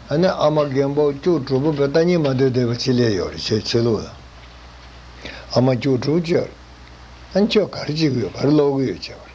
ཨ་ནེ་ཨ་མ་རྒན་པོ་སྐྱུག་བྲོ་བུ་བོས་ལྟ་ཉན་མ་སྡོད་བསྡད་པ་ཅི་ལས་ཡོད་རེད་ཁྱོད་ཆོས་ལུགས་ལ། ཨ་མ་སྐྱུག་བྲོ་བུ་ཁྱོད། ཨ་ནེ་ཁྱོད་ག་རེ་བྱེད་གི་ཡོད་ག་རེ་ཀློག་གི་ཡོད་ཅེས་པ་རེད།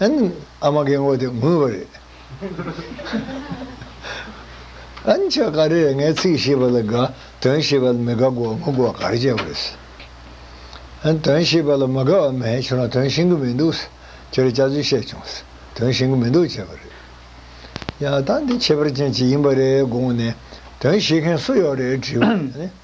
ཨ་མ་ཀའི་མགོ་དེ་ངུས་པ་རེད། ཨན་ཆ་ག་རེད་ངས་ཚིག་ཤེས་པ་ལ་དགའ་དོན་ཤེས་པ་ལ་མི་དགའ་དགོ་མི་དགོ་ག་རེ་བྱས་པ་རེད། ཨན་དོན་ཤེས་པ་ལ་མི་དགའ་བ་མེད་ཁྱོད་རང་དོན་ཤེས་གི་མི་འདུག་ཁྱེད་རང་སྐྱག་རྫུན་བཤད་བྱུང། དོན་ཤེས་གི་མི་འདུག་བྱས་པ་རེད། ཡང་ད་འདི་ཁྱད་པར་ཅན་ཅིག་ཡིན་པ་རེད་དགོངས་ནས་དོན་ཤེས་མཁན་སུ་ཡོད་རེད་དྲིས་པ།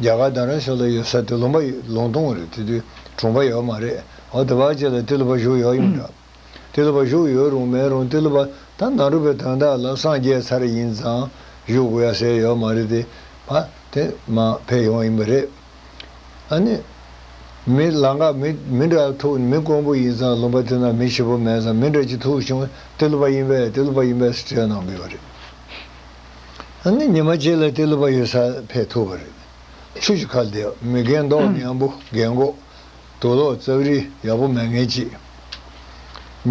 རྒྱ་གར་དང་རང་ཕྱོགས་ལ་ཡོད་ས་དེ་ལུང་པ་ཡིན་ལུང་སྟོང་རེད་དེ་དུས་གྲོངས་པ་ཡོད་མ་རེད་འོ་དེ་བ་ཅེ་ལ་ཏི་ལུ་པ་བཞུགས་ཡོད་ཡོང་འདྲ། ཏི་ལུ་པ་བཞུགས་ཡོད་རུང་མེད་རུང་ཏི་ལུ་པ་ད་ནང་འགྲོ་པའི་དོན་དག་ལ་སངས་རྒྱས་ཚར་ཡིན་ཙང་བཞུགས་དགོས་ཡ་ཟེར་ཡོད་མ་རེད་དེ་བ་དེ་མ་ཕེབས་ཡོང་ཡིན་པ་རེད། ཨ་ནི། མི་ལ་འགའ་མི་མི་འདྲ་ཐུག་མི་དཀོན་པོ་ཡིན་ཙང་ལུང་པ་དེ་ན་མི་ཞིབ་པོ་མེད་ཙང་མི་འདྲ་གཅིག་ཐུག་བྱུང་ཏི་ལུ་པ་ཡིན་པས་ཏི་ལུ་པ་ཡིན་པས་སྤྲད་གནང་དགོས་པ་རེད། ཨ་ནི་ཉི་མ་གཅིག་ལ་གཏི་ལུ་པ་ཡོད་ས་ཕེབས་ཐུབ་པ་རེད། ཆུ་བཞི་ཁ་བདེ་མི་རྒན་མདོག་ཉམས་པོ་རྒན་གོག། དུག་ལོག་ཙག་རི་ཡག་པོ་མལ་ངན་གཅིག།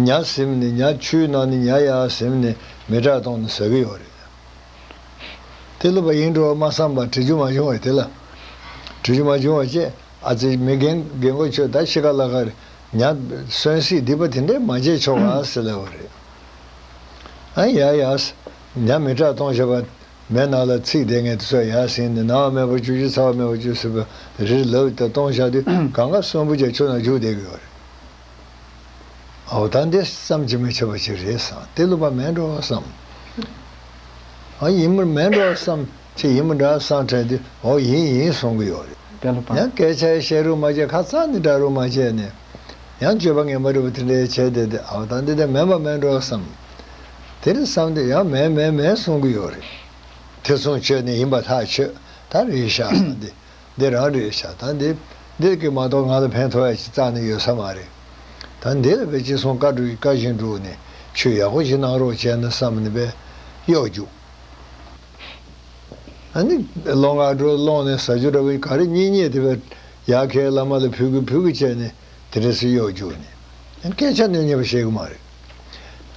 ཉྭ་གཟིམ་ནི་ཉྭ་ཆུའི་ནང་ནི་ཉྭ་ཡག་གཟིམ་ནི་མི་དྲག་གཏོང་ནི་ཟ་གི་ཡོག་རེད། གཏི་ལུ་པ་ཡིན་འགྲོ་མ་བསམ་པར་དྲི་ཆུ་མ་བྱུང་བས་དེ་ལ། དྲི་ཆུ་མ་བྱུང་བ་བཅས་ཨ་ཙི་མི་རྒན་རྒན་གོག་ཁྱོད་ད་ཕྱི་ཀ་ལ་ཀར་ཉྭ་གསོན་སྲིད་སྡིག་པ་དེ་འདྲས་མ་བྱས་ཆོག་ག་ཟེར་སླ་བ་རེད། ཨ་ཡག་ཡག། ཉམས་མི་སྐྲག་གཏོང་བྱེད་པ། མའི་ནགས་ལ་ཚིགས་བསྡད་ངན་དུ་སོ་ཡར་བསྲིངས་ནས་ནང་དམའ་བར་བཅུག་ཕྱི་ཚ་བ་མེད་པར་བཅུག་སྲིད་པ་རིར་ལབ་ལྟར་གཏོང་བྱ་སྟེ་གང་སྐབས་གསོན་པོ་ཅག་ཆུ་ནང་བཅུག་བསྡད་དགོས་པ་རེད། ད་འདི་ཙམ་གྱིས་མི་ཆོག་པ་ཅིག་རེད་བསམ་སྟེ་ལུག་པ་མས་འགྲོ་བསམ། ཨ་ཡིན་མོ་མས་འགྲོ་བསམ། ཁྱེད་ཡིན་མོ་འདྲ་བསམ་ཕྲད་དེ་ཨོ་ཡིན་ཡིན་གསུང་གི་ཡོད་རེད། ཡང་སྐད་ཆ་བཤད་རུང་མ་བཤད་ཁ་རྩང་ནས་བསྒྲགས་རུང་མ་བྱས་ནས། ཡང་སྤྱོད་པ་ངན་པ་རིལ་བུ་དེ་འདྲས་བྱས་ཏེ་དེ་ཨའོ་ད་འདི་དེ་མེད་པ་མེད་འགྲོ་བསམ། དེར་བསམ་དེ་ཡང་མེད་མེད་མེད་གསུང་གི་ཡོད་རེད། དེ་མཚུངས་ཆོས་ནི་ཡིན་པ་ཐག་ཆོད་ད་རེད་ཤ་ད་འདི་འདི་རང་རེད་ཤ་ད་འདི་འདི་གི་མ་གཏོགས་ང་ལ་ཕན་ཐོགས་ཡ་གཅིག་ཙག་ནི་ཡོད་ས་མ་རེད། ད་འདི་ལ་བས་ཅི་གསུང་བཀའ་བཀའ་བཞིན་སྒྲུག་ནས་ཆོས་ཡག་པོ་ཞིག་གནང་རོགས་བྱས་ན་བསམ་ནས་བས་གཡོག་རྒྱུགས། ཨ་ནི་ལོ་ང་དྲུག་སློང་ནས་ཟ་རྒྱུ་འདྲ་བོ་ག་རེ་རྙེད་རྙེད་དེ་བས། ཡ་ཁའི་བླ་མ་ལ་ཕུལ་གི་ཕུལ་གི་བྱས་ནས་དེ་འདྲ་སུས་གཡོག་བསྒྱུར་ནས་སྐད་ཆ་སྣོན་ཉེས་པ་བཤད་གི་མ་རེད།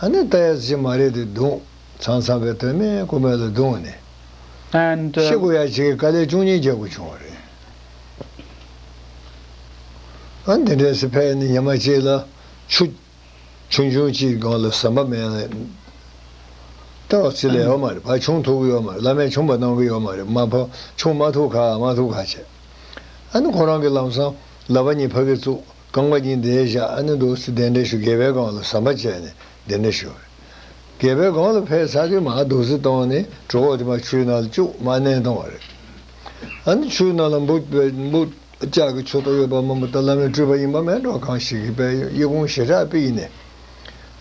ཨ་ནི་ལྟ་ཡག་ཅིག་མ་རེད་དེ་དུང་ཚང་ཚང་པའི་དོན་མེད་དཀོན་མེད་ལ་བརྡུངས་ནས And ཤི་དགོ་ཡག་ཅིག་གི་དཀའ་ལས་ཅུང་ཉེན་རྒྱག་དགོས་བྱུང་བ་རེད། ཨ་འདི་འདྲའི་སི་ཕས་ནི་ཉི་མ་གཅིག་ལ་ཆུ། ཆུང་ཆུང་གཅིག་གི་སྒང་ལ་ཟམ་པ་མེད། ལྟ་བ་ཚི་ལ་ཡོད་མ་རེད་བ་ཆུང་ཐུག་གི་ཡོད་མ་རེད་བླ་མས་ཆུང་པ་གནང་གི་ཡོད་མ་རེད་མ་བ་ཆུང་མ་ཐུག་ཁ་མ་ཐུག་ཁ་བྱས། ཨ་ནི་ཁོ་རང་གི་ལམ་སང་ལ་བ་གཉིས་ཕ་གིར་བཙུགས་རྐང་པ་གཉིས་འདེད་བཞག་ཨ་ནི་འདུག་སི་གདན་འདྲེན་ཞུ་རྒས་པའི་སྒང་ལ་ཟམ་པ་བཅད་ནས་གདན་འདྲེན་ཞུ། རྒས་པའི་སྒང་ལ་ཕེབས་ཚར་དུས་མ་འདུག་སི་གདོང་ནས་གྲོ་གོག་དེ་མ་ཆུའི་ནང་ལ་བཅུག་མ་མནན་གཏོང་བ་རེད། ཨ་ནི་ཆུའི་ནང་ལ་འབུད། ལྕགས་ཀྱི་ཆུ་ཐོག་ཡོད་པ་མ་མོ་ཏཱ་བླ་མའི་སྤྲུལ་པ་ཡིན་པ་མེད་འགྲོ་གང་ཞིག་གིས་པའི་དབྱི་ཀུང་ཞི་ཁྲག་པི་ཡིན་ནས།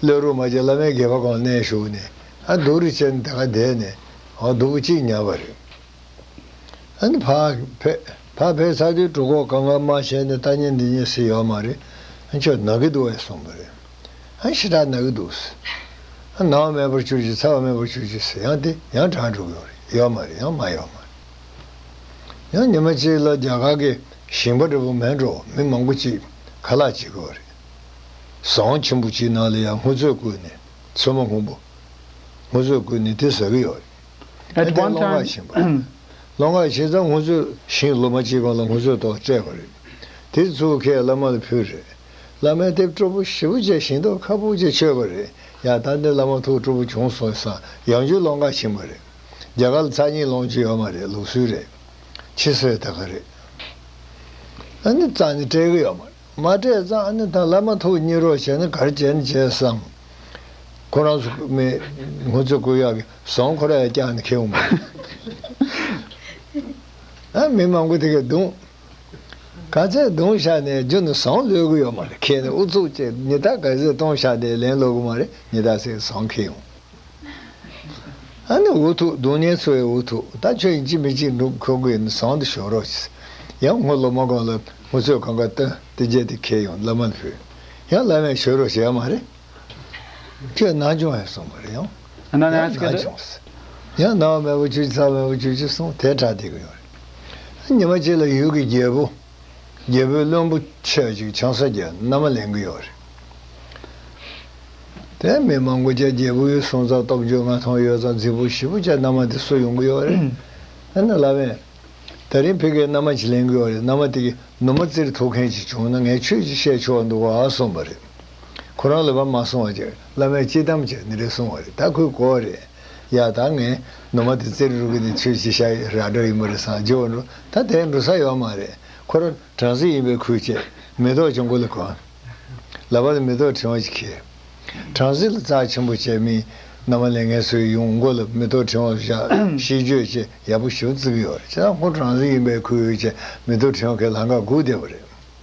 ཀླད་རུ་མ་བཅད་བླ་མའི་སྒལ་པ་གང་གནས་ཞུགས་ནས་ཨ་འདུག་རི་ཆེན་དེ་ག་བསྡད་ནས་ཨོ་འདུག་པོ་གཅིག་ཉར་བ་རེད། ཨ་ནི་ཕ་ཕེ་ཕ་ཕེ་ཚ་དུས་གྲུ་གོག་གང་གང་མ་བྱས་ནས་ལྟ་ཉན་འདི་ཉན་སྲིད་ཡོད་མ་རེད་ཨ་ཁྱོད་ནག་གི་འདུག་བས་གསུངས་པ་རེད། ཨ་ཞི་ཁྲག་ནག་གི་འདུག་ཟེར། ཨ་ནག་མེད་པར་གྱུར་ཅིག་ཚ་བ་མེད་པར་གྱུར་ཅིག་ཟེར་ཡང་དེ་ཡང་གྲང་དྲུག་ཡོད་རེད་ཡོད་མ་རེད་ཡང་མ་ཡོད་མ་རེད། ཡང་ཉི་མ་གཅིག་ལ་རྒྱ་གར་གྱི་ཞིང་པ་འདྲ་པོ་མལ་འགྲོ་བ་མི་མང་པོ་གཅིག་ཁ་ལག་བྱེད་དགོས་པ་རེད། ཟ་འོང་ཆེན་པོ་གཅིག་ནང་ལ་ཡང་སྔོ་ཚོད་བསྐུར་ནས་ཚོད་མ་ཧུམ་པོ། སྔོ་ཚོད་བསྐུར་ནས་དེ་ཟ་གི་ཡོད་རེད། ཨ་ཏའི་སློབ་འགག་བྱིན་པ། སློབ་འགག་བྱེད་ཙང་སྔོ་ཚོད་ཞིང་སློབ་མ་གཅིག་གང་ལ་སྔོ་ཚོད་ཏོག་སྤྲད་པ་རེད། དེ་ཚུར་ཁས་བླ་མ་ལ་ཕུལ་རེད། བླ་མས་དེབ་སྤྲོ་པོ་ཞེ་པོ་བཅས་ཞིང་ཏོག་ཁ་སྤུ་བཅས་མཆོད་པ་རེད། ཡང་ད་འདི་བླ་མ་ཐུགས་སྤྲོ་པོ་བྱུང་སོང་ས་ཡང་རྒྱུ་སློབ་འགག་བྱིན་པ་རེད། རྒྱ་གར་རྩ་གཉིས་སློང་གྱི་ཡོད་མ་རེད་ལུགས་སྲོལ་རེད། ཕྱི་སྲོལ་ད་ག་རེད། ཨ་ནི་རྩ་ནི་སྤྲད་གི་ཡོད་མ་རེད་མ་སྤྲད་རྩ་ཨ་ནི་ཐང་ལ་མ་ཐུག་གཉིད་རོགས་བྱས་ན་གར་བྱས་ནི་བྱས་སམ། ཁོ་རང་ཚོ་མི་སྔོན་ཚོད་སྐུལ་ཡག་གི་བཟང་ཁོ་ར་ཡ་བཀྱག་ནི་ཁེལ་འོང་གི་རེད། ཨ་མི་མང་པོ་དེ་གས་བརྡུང། ག་ཚད་བརྡུང་བཞག་ནས་རྒྱུ་ནི་བཟང་ལོས་གི་ཡོད་མ་རེད་ཁེལ་ནི་ཨུ་ཚུགས་བྱས་ནི་ད་ག་ཟེ་གཏོང་བཞག་ནས་ལན་སློག་གི་མ་རེད་ནི་ད་ཟེ་བཟང་ཁེལ་འོང། ཨ་ནི་འུ་ཐུག་སྡུག་བསྔལ་འཚོ་བའི་འུ་ཐུག་ད་ཁྱོད་ཡིན་གཅིག་མི་གཅིག་འདུག་ཁོ་དགོས་ན་བཟང་དུ་ཞོག་རོགས་ཞེས་ཡང་སྔོ་ལོ་མ་གང་ལ་ངུ་ཚོད་གང་ག་བཏོན་ཏེ་བརྒྱལ་ཏེ་ཁེལ་ཡང་བླ་མ་ལ་ཕུལ་ཡང་བླ་མས་ཞོལ་རོགས་ཞེས་ཡ་མ་རེད་ཁྱོད་ནང་སྦྱོང་ཡང་གསུངས་པར་ཡང་ཡང་ནང་སྦྱོངས་ཡང་ནང་བ་མེད་པ་བཅུ་གཅིག་ཚང་བ་མེད་པ་བཅུ་གཅིག་གསུངས་དེ་དྲག་བསྡད་ཀྱི་ཡོད་རེད་ཉི་མ་གཅིག་ལ་ཡུལ་གྱི་རྒྱལ་པོ། རྒྱལ་པོའི་བློན་པོ་ཆོས་གཅིག་ཆང་ས་རྒྱལ་མནའ་མ་ལེན་གི་ཡོད་རེད། དེ་མི་མང་པོ་ཅག་རྒྱལ་པོའི་གསུང་རྩ་སྟོབས་རྒྱུད་མངའ་ཐང་ཡོད་ཙང་རྫིག་པོ་བཞི་པོ་ཅག་མནའ་མ་དེ་གསོད་ཡོང་གི་ཡོད་རེད། ཨ་ན་ལ་བན། ད་རིང་ཕི་གའི་མནའ་མ་ཅིག་ལེན་གི་ཡོད་རེད་མནའ་མ་དེ་གི་ནུ་མ་བཙིར་ཐུབ་མཁན་ཅིག་བྱུང་ན་ངས་ཁྱོད་ཅིག་བཤད་ཆོག་འདུག་ཨ་གསུངས་པ་རེད། ཁོ་རང་ལ་བ་མ་གསུང་བ་ཅིག་བླ་མས་སྐྱིད་དམ་ཅིག་ནི་རེད་གསུངས་བ་རེད་ད་ཁོས་གོ་བ་རེད། ཡ་ད་ངས་ནུ་མ་དེ་རྩེ་རུ་རུ་གི་ནས་ཁྱོད་ཅི་ཤ་ཡི་ར་སྒྲ་ཡིན་པ་རེད་སང་རྗེ་བོ་འགྲོ་ད་དེ་འགྲོ་ས་ཡོད་མ་རེད་ཁོ་ར་གྲང་ཟིག་ཡིན་པའི་ཁུལ་བྱས་མེ་ཏོག་ཀྱང་མགོ་ལ་གོན། ལ་བ་ལ་མེ་ཏོག་ཕྲེང་བ་ཅིག་ཁྱེར། གྲང་ཟིག་ལ་རྩ་ཆེན་པོ་བྱས་མིན་ནམ་མ་ལས་ངས་སུའི་ཡུང་མགོ་ལ་མེ་ཏོག་ཕྲེང་བ་བཞག་ཤིས་བརྗོད་ཅེས་ཡག་པོ་ཞུ་བརྩི་གི་ཡོད་རེད་ཅེ་ད་ཁོ་གྲང་ཟིག་ཡིན་པའི་ཁུལ་བྱས་མེ་ཏོག་ཕྲེང་བ་ཁས་ལང་ཀ་སྒུག་བསྡད་པ་རེད།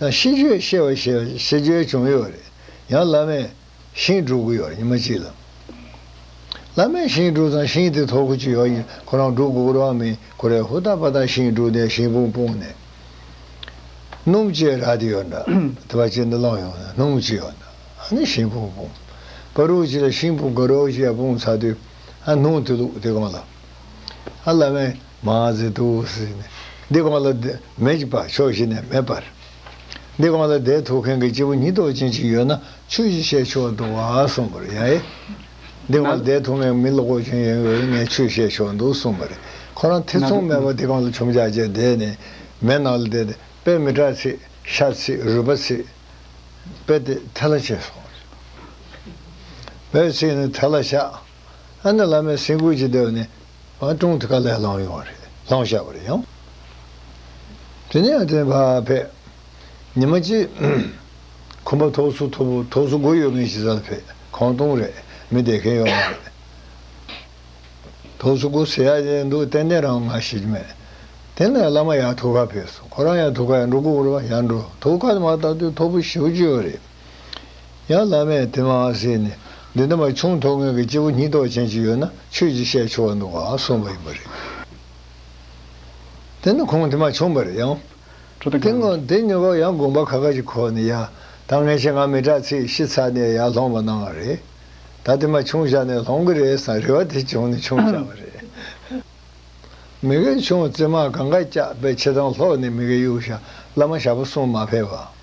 ན་ཤིས་བརྗོད་བཤད་པ་ཞེས་པ་ཤིས་བརྗོད་བྱུང་ཡོད་རེད། ཡང་བླ་མས་ཤིང་བསྒྲུགས་གི་ཡོད་རེད་ཉི་མ་གཅིག་ལ། བླ་མས་ཤིང་བསྒྲུགས་ཙང་ཤིང་དེ་ཐོར་གུ་ཅི་ཡོད་ཡིན་ཁོ་རང་བསྒྲུགས་དགོས་རོགས་མིན་ཁོ་རས་ཧུར་ཐག་པ་ཐག་ཤིང་བསྒྲུགས་དེ་ཤིང་སྤུངས་སྤུངས་ནས། སྣུམ་ཅེས་རག་དེ་ཡོད་འདྲ། དེ་བ་ཅེས་འདི་བླངས་ཡོང་ནས་སྣུམ་ཅེས་ཡོད་འདྲ་ནས་ཤིང་སྤུངས་སྤུངས། པ་རུག་ཅེས་ལ་ཤིང་སྤུངས་ག་རོག་ཅེས་ཡང་སྤུངས་ཚར་དུས། ཨ་སྣུམ་དེ་བླུགས་དེ་གང་ལ། ཨ་བླ་མས། མ་ཟི་ཏུ་ཟི་ནི་འདི་གང་ལ་དེ་མེད་ཅིག་པ་ཕྱོགས་བཞི་ནས་མེད་པར། འདི་གང་ལ་དེ་ཐོགས་མཁན་གྱི་སྐྱེ་བོ་གཉིས་རྟོག་ཅན་གཅིག་ཡོད་ན་ཆོས་ཀྱི་བཤད་ཕྱོགས་འདུག་ཨ་གསུངས་པར་ཡང་ཨེ། འདི་གང་ལ་དེ་ཐོགས་མཁན་མི་ལོག་པ་ཅན་ཡང་ཡོད་ན་ངས་ཆོས་བཤད་ཕྱོགས་འདུག་གསུངས་པ་རེད་ཁོ་རང་ཐེ་ཚོམ་མེད་པར་འདི་གང་ལ་ཁྱུང་ཅག་ཅེས་བསྡད་ནས་མེད་ནང་ལ་བསྡད་དེ་དཔེ་མི་གྲགས་ཚིག་ཤ་ཚིག་རུས་པ་ཚིག། དཔེ་དེ་ཐལ་ལ་བྱས་སོང། དཔེའི་ཚིག་ནི་ཐལ་ལ་བྱ། ཨ་ནེ་བླ་མའི་སེམས་ཁུར་གྱི་སྡེ་བ་ནས་བང་ཀྲོང་དུ་ཀ་ལེར་ལངས་ཡོང་བ་རེད་ལྷང་བཞག་པར་ཡང་དེ་ནས་ཨ་ཏན་བྷར་ཕེད། ཉི་མ་གཅིག། ཁོམ་པ་ཐོགས་སུ་ཐོབ་ཐོགས་སུ་སྒོ་ཡོད་མཁན་ཞིག་ས་ལ་ཕེད་ཁང་སྟོང་རེད་མི་བསྡད་མཁན་ཡོད་མ་རེད། ཐོགས་སུ་སྒོ་ཟེ་ཡག་ཡག་འདུག་ཏན་ཏན་རང་ང་ཤེས་ཀྱི་མེད། དེ་ནས་བླ་མ་ཡག་ཐོག་ཁར་ཕེབས་སོང་ཁོ་རང་ཡག་ཐོག་ཁ་ཡག་འགྲོ་དགོས་རེད་པ་ཡག་འགྲོ་ཐོག་ཁ་དེ་མ་ཐག་དུས་ཐོག་བུ་བཞི་བཅུ་ཡོད་རེད། ཡང་བླ་མས་དེ་མ་ཟད་ནས་འདི་འདྲ་མ་བྱུང་མཐོ་དངོས་ཀྱི་སྐྱེ་བོ་སྙིང་སྟོབས་ཅན་ཅིག་ཡོད་ན་ཆོས་ཅིག་བཤད་ཆོག་འདུག་ག་གསུངས་པ་ཡིན་པ་རེད། དེ་ནི་ཁོང་དེ་མ་བྱུང་པ་རེད་ཡང། དེ་སྔོན་དེ་ཉོ་སྐབས་ཡང་དགོན་པ་ཁ་ཁ་ཅིག་ཁོག་ནས་ཡ་ད་ངས་ཆེད་ང་མི་དྲག་ཚིག་གཞི་ཚར་ནས་ཡར་ལྷོང་བ་གནང་བ་རེད། ད་དེ་མ་བྱུང་བཞག་ནས་ལྷོང་གི་རེད་བསམ་རེ་བ་དེ་བྱུང་ནས་ཆུང་བཞག་པ་རེད། མི་གེ་ཆུང་བཙས་མ་གང་ག་སྐྱག་པའི་ཆེ་ཐང་ལྷོག་ནས་མི་གེ་གཡུག་བཞག་བླ་མ་ཞྭ་པོ་གསུངས་མ་ཕེབས་པ།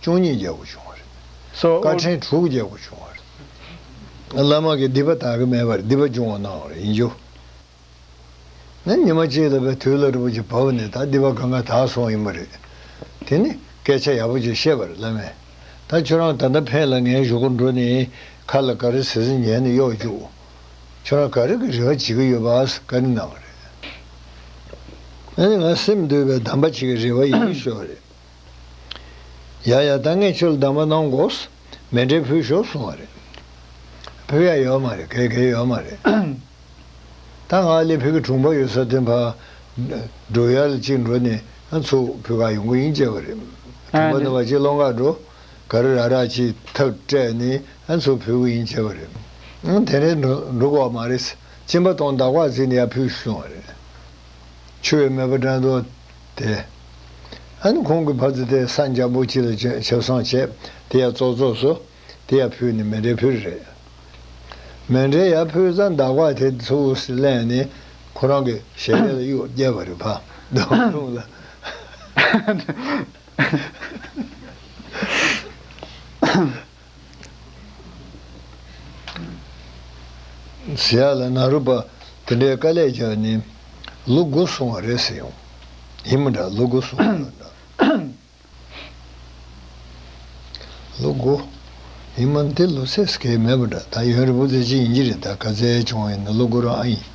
བཅུ་གཉིས་རྒྱལ་པོ་བྱུང་བ་རེད། བཀའ་ཕྲེང་དྲུག་རྒྱལ་པོ་བྱུང་བ་རེད། བླ་མ་གིས་སྡིག་པ་དག་གི་མེད་པར་སྡིག་པ་སྦྱོང་བ་གནང་བ་རེད་ཡིན་རྒྱུ། ནི་ཉི་མ་གཅིག་ལ་བའི་དུས་ལ་རི་བོ་ཆེ་བབས་པ་ནས་ད་སྡིག་པ་གང་གང་དག་སོང་ཡིན་པ་རེད། དེ་ནི་སྐད་ཆ་ཡག་པོ་ཅིག་བཤད་པར་བླ་མས། ད་ཁྱོད་རང་ད་ལྟ་ཕན་ལ་ངའི་གཞུག་སྒོར་འགྲོ་ནས་ཁ་ལ་ག་རེ་ཟེར་ཟེར་ཉན་ནས་གཡོག་བཅུག། ཁྱོད་རང་ག་རེ་གི་རེ་བ་བྱེད་ཀྱི་ཡོད་པ་ཨ་ཟེར་བཀའ་དྲིན་གནང་བ་རེད། ཨ་ནི་ང་སེམས་འདུལ་བའི་གདམས་པ་བྱེད་ཀྱི་རེ་བ་ཡིན་ཤོས་རེད། ཡ་ཡ་ད་ངས་ཁྱོད་ལ་སྡང་བ་གནང་དགོས། མེ་འདྲའི་བུ་ཞོག་གསུང་བ་རེད། བུ་ཡ་ཡོད་མ་རེད་གད་གད་ཡོད་མ་རེད། ད་ང་ལས་བུ་གི་དྲུང་འཕར་ཡོད་ས་དེ་འཕར། འགྲོ་ཡར་ལ་གཅིག་འགྲོ་ནས་ཚུར་བུ་ག་ཡོང་གི་ཡིན་བཅས་པ་རེད། དྲུང་འཕར་ནས་བ་གཅིག་ལོང་ག་འགྲོ། ག་རི་ར་ར་གཅིག་ཐག་སྤྲད་ནས་ཚུར་བུ་གི་ཡིན་བཅས་པ་རེད། དེ་འདྲའི་འགྲོ་གོ་བ་མ་རེད། གཅིན་པ་དང་འདག་བག་བརྫིས་ནས་ཡར་བུད་ཞུ་གསུང་བ་རེད། ཆུ་བའི་མེ་བ་འགྲམ་དུ། དེ། ཨན་ཁོང་གི་ཕ་ཚེ་དེ་སངས་རྒྱ་པོ་ཅི་ལ་བྱོན་ཆབ་སངས་བྱས་དེ་ཡ་ཙོག་ཙོག་སོ། དེ་ཡ་ཕུལ་ནི་མེ་འདྲའི་ཕུལ་རེད། མེ་འདྲའི་ཡ་ཕུལ་ཙང་མདའ་བག་དེ་ཚོ་འུར་སི་གླན་ནི་ཁོ་རང་གི་ཞལ་རས་ལ་གཡུག་རྒྱལ་བ་རེད་ཕ་མདའ་བག་ལྷུང་ལ། ཟེར་ཡ་ལ་ན་རུ་པ་དེ་འདྲའི་དཀའ་ལས་བརྒྱག་ནི་ལུ་དགུ་སོང་བ་རེད་ཟེར་ཡོང། ཡིན་མི་འདྲ་ལུ་དགུ་སོང་བ་ལ་འདྲ། ལུ་དགུ། ཡིན་མ་འདི་ལུ་ཚད་སྐལ་མེད་པ་འདྲ་ད་ཡོན་རི་བོ་རྫས་ཅི་ཡིན་གྱི་རེད་ད་ག་རྫས་བྱུང་བ་ཡིན་ན་ལུ་དགུ་རང་ཨ་ཡིན།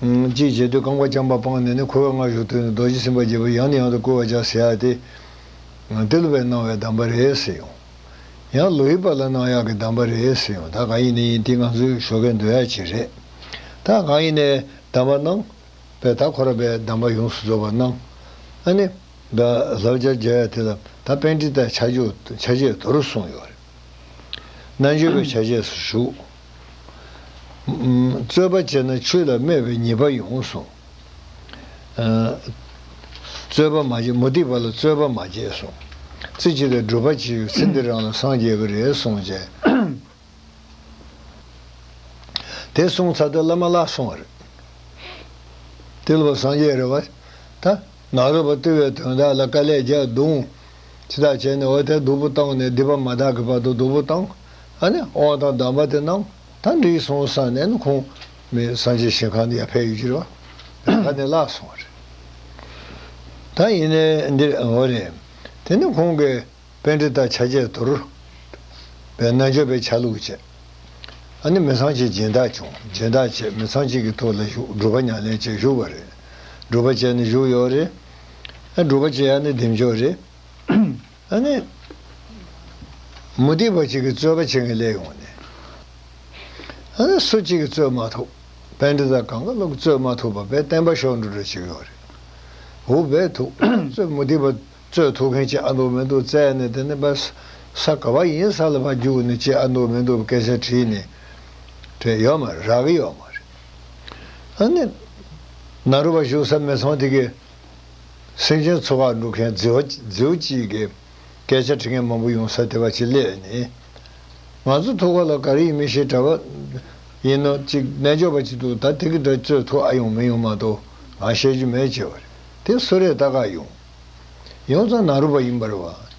ཅེས་བརྗོད་དུས་རྐང་པ་རྐྱང་པ་སྤངས་ནས་ནི་ཁོ་བོས་སྔར་བཞུགས་དུས་ནས་རྡོ་རྗེ་སེམས་དཔའ་རྒྱལ་པོས་ཡང་ནས་ཡང་དུ་བསྐུལ་བར་བྱ་ཟེར་ཡ་སྟེ། ཏེ་ལོ་པའི་གནང་བའི་གདམས་པ་རེད་ཟེར་ཡོང། ཡང་ལོ་ཡི་པ་ལ་གནང་ཡག་གི་གདམས་པ་རེད་ཟེར་ཡོང་ད་གང་ཡིན་ནས་ཡིན་ཏེ་ང་ཚོའི་ཞོགས་པའི་འདོད་ཡག་ཅིག་རེད། ད་གང་ཡིན་ནས་གདམས་པ་གནང། པས་ད་ཁོ་ར་པའི་གདམས་པ་ཡོངས་སུ་རྫོགས་པར་གནང། ཨ་ནི། ད་བཟའ་བཅའ་བརྒྱབ་ཡ་དེ་ལ་ད་དཔལ་ཁྲི་ལྟར་ཆ་རྒྱུ་ཆ་བྱད་དོ་རུ་གསུངས་ཡོད་རེད། རྣལ་འབྱོར་པའི་ཆ་བྱད་སུ་བཞུགས། རྩོད་པ་བྱས་ན་ཆོས་ལ་སྨད་པའི་ཉེས་པ་ཡོང་གསུངས། རྩོད་པ་མ་བྱེད་མུ་ཏིག་པ་ལ་རྩོད་པ་མ་བྱེད་གསུངས། རྩེ་གཅིག་ལ་སྒྲུབ་པ་བྱེད་ཡོད་ཚེ་འདི་རང་ལ་སངས་རྒྱས་ཀྱི་རེད་གསུངས། དེ་གསུངས་ཚར་ཏེ་བླ་མ་བརླག་སོང་བ་རེད། དེ་ལ་བ་སངས་རྒྱས་རེད་བ། ད་ནག་རོལ་པ་བརྟུལ་བའི་དོན་དག་ལ་དཀའ་ལས་བརྒྱག་བརྡུང། ཅི་དག་བྱས་ནས་འོ་དེ་སྡུག་པོ་བཏང་ནས་སྡིག་པ་མ་དག་གི་བར་དུ་སྡུག་པོ་བཏང། ཨ་ནི་དབང་དང་གདམས་པ་དེ་རྣམས་ད་འགྲིག་སོང་ས་ནས་ནི་ཁུངས་མེད་སངས་རྒྱས་ཞིང་ཁང་དུ་ཡར་ཕེབས་ཡོད་ཀྱི་རེད་བ། དེ་ད་ནི་བརླག་སོང་བ་རེད། ད་ཡིན་ནའི་འདིར་འོང་བ་རེད། དེ་ནི་ཁོང་གི་དཔེ་འདི་དག་ཆ་བྱད་དུར་བའི་རྣལ་འབྱོར་པའི་ཆ་ལུགས་བཅས། ཨ་ནི་མི་ཚང་གཅིག་སྦྱིན་བདག་བྱུང་སྦྱིན་བདག་བཅས་མི་ཚང་གཅིག་གི་ཐུགས་ལ་བཞུགས་སྒྲུབ་པ་ཉམས་ལེན་བཅས་བཞུགས་པ་རེད། སྒྲུབ་པ་བཅས་ནི་བཞུགས་ཡོད་རེད། ཨ་སྒྲུབ་པ་བཅས་ཡ་ནི་བདེ་མཆོག་རེད། ཨ་ནི། མུ་སྟེགས་པ་གཅིག་གིས་རྩོད་པ་བྱེད་མཁན་སླེབས་ཡོང་ནས། ཨ་ནི་སུ་གཅིག་གིས་རྩོད་མ་ཐུབ། དཔལ་འབྲི་ཙག་གངས་ཀ་ལོག་གིས་རྩོད་མ་ཐུབ་པ་དཔལ་བསྟན་པ་ཤོག་འགྲོ་འགྲོ་བྱེད་ཀྱི་ཡོད་རེད། འུ་བས་ཐུག་རྩོད་མུ་སྟེགས་པ་རྩོད་ཐུག་མཁན་གཅིག་ཨ་འདུག་མི་འདུག་བཙལ་ནས་དེ་ནས་པར་ས་ག་བ་ཡིན་ས་ལ་བ་རྒྱུགས་ནས་གཅིག་ཨ་འདུག་མི་འདུག་སྐད་ཆ་དྲིས་ནས་དྲན་ཡོད་མ་རེད་རག་གི་ཡོད་མ་རེད། ཨ་ནི། ན་རུ་བ་བཞུགས་ས་མི་ཚང་དེ་གས། སེང་ཆེན་འཚོ་བ་འགྲུབ་མཁན་རྫིའུ་སྐྱིད་ཀྱི་སྐད་ཆ་དྲི་ངན་མང་པོ་ཡོང་ས་དེ་བ་ཅི་སླད་ནི། ང་ཚོ་ཐུག་ག་ལ་ག་རེ་ཡིན་མི་ཤེས་གྲྭ་བ་ཡིན་ནོ་ཅིག་རྣལ་འབྱོར་པ་ཅིག་འདུག་ད་དེ་གི་འདྲ་རྩོད་ཐུག་ཨ་ཡོང་མི་ཡོང་མ་གཏོགས་ང་བཤད་རྒྱུ་མེད་ཅེས་བ་རེད་དེ་སུ་རེད་ལྟ་ག་ཡོང། ཡོང་ཙང་ནང་རུ་བ་ཡིན་པར་བ།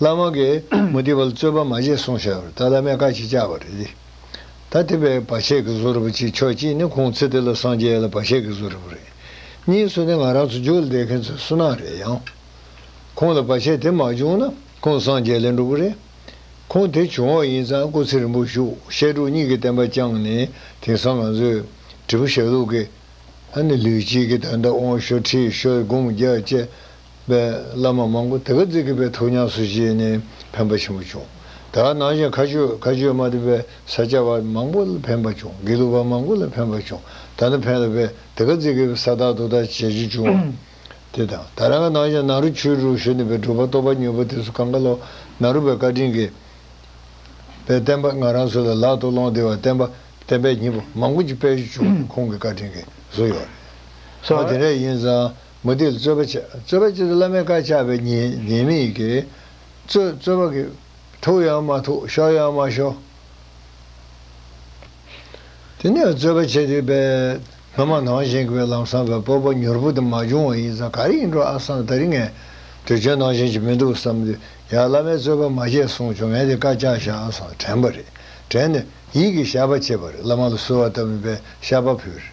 བླ་མ་གིས་མུ་ཏིག་པ་ལ་རྩོད་པ་མ་བྱེད་གསུངས་བྱས་པར་ད་བླ་མས་བཀའ་ཞིག་བཅག་པ་རེད། ད་དེ་བས་བ་ཆད་ཀྱི་བཟོ་རུ་བ་ཅིག་ཆོག་གཅིག་ནི་ཁོང་ཚེ་དེ་ལ་སངས་རྒྱས་ལ་བ་ཆད་ཀྱི་བཟོ་རུ་བ་རེད། གཉིས་སུ་ནི་ང་རང་ཚོ་འཇུག་ལ་བསྡད་མཁན་ཚོའི་སུན་སྣང་རེད་ཡང། ཁོང་ལ་བ་ཆད་དེ་མ་བྱུང་ན་ཁོང་སངས་རྒྱས་ལེན་འགྲོ་གི་རེད། ཁོང་དེ་བྱུང་བ་ཡིན་ཙང་སྐུ་ཚེ་རིང་པོ་བཞུགས་བཤད་དྲུག་གཉིས་ཀྱི་བསྟན་པ་བསྐྱངས་ནས་དེང་སང་ང་ཚོས་བྲིས་པ་ཞལ་ལུགས་ཀྱི། ཨ་ནི་ལུས་གཅིག་གིས་ད་ལྟ་དབང་ཤོར་ཁྲིད་ཤོར་སྒོམ་རྒྱག་བཅས་པའི་བླ་མ་མང་པོ་དེ་ག་རྫིག་གི་པའི་ཐུགས་ཉམས་སུ་བཞེས་ནས་ཕན་པ་ཆེན་པོ་བྱུང། དེ་ག་ནང་བཞིན་མཁའ་སྤྱོད་མཁའ་སྤྱོད་མ་དེ་པའི་ས་སྐྱ་པ་མང་པོ་ལ་ཕན་པ་བྱུང་དགེ་ལུགས་པ་མང་པོ་ལ་ཕན་པ་བྱུང་ད་ནི་ཕན་ལ་པའི་དེ་ག་རྫིག་གི་པའི་ས་བདག་དུ་དག་བྱེད་རྒྱུ་བྱུང་བ་དེ་དང་ད་རང་ག་ནང་བཞིན་ནཱ་རོ་ཆོས་དྲུག་ཞུ་ནས་པའི་སྒྲུབ་པ་གཏོར་པ་མྱོས་པོ་དེ་སུ་གང་ག་ལོ་ནཱ་རོ་པའི་བཀའ་དྲིན་གི་པའི་བསྟན་པ་ང་རང་ཚོ་ལ་ལག་ཏུ་སློང་བདེ་བ་བསྟན་པ་བསྟན་པའི་མྱི་པོ་མང་པོ་ཅིག་པས་བཞུགས་ནས་ཁོང་གི་བཀའ་དྲིན་གི་གཟུགས་ཡོད་རེད་སོ་དེ་འདྲ་ཡིན་ཙང་མུ་སྟེགས་རྩོད་པ་བྱེད་རྩོད་པ་བྱེད་དུ་བླ་མའི་བཀའ་བཅག་པའི་ཉེས་མེད་ཀྱིས། རྩོད་རྩོད་པ་གི། ཐུག་ཡང་མ་ཐུག་ཤོར་ཡང་མ་ཤོར། དེ་ནས་རྩོད་པ་བྱེད་དུས་པའི། སྔ་མ་ནང་བཞིན་གྱི་པའི་ལམ་སང་བའི་སྤོབས་པ་མྱུར་པོ་དེ་མ་བྱུང་བ་ཡིན་ཙང་ག་རེ་ཡིན་འགྲོ་ཨ་སང་ད་རིག་ངས། དུས་ཆེན་ནང་བཞིན་གྱི་མི་འདུག་བསམ་དུས་ཡ་བླ་མའི་རྩོད་པ་མ་བྱེད་གསུངས་བྱུང་ངས་དེ་བཀའ་བཅག་བཞག་ཨ་སང་དྲན་པ་རེད་དྲན་ནས་ཡིད་ཀྱི་ཞགས་པ་བྱེད་པ་རེད་བླ་མ་ལ་གསོལ་བ་བཏབ་ནས་པའི་ཞགས་པ་ཕུལ་རེད།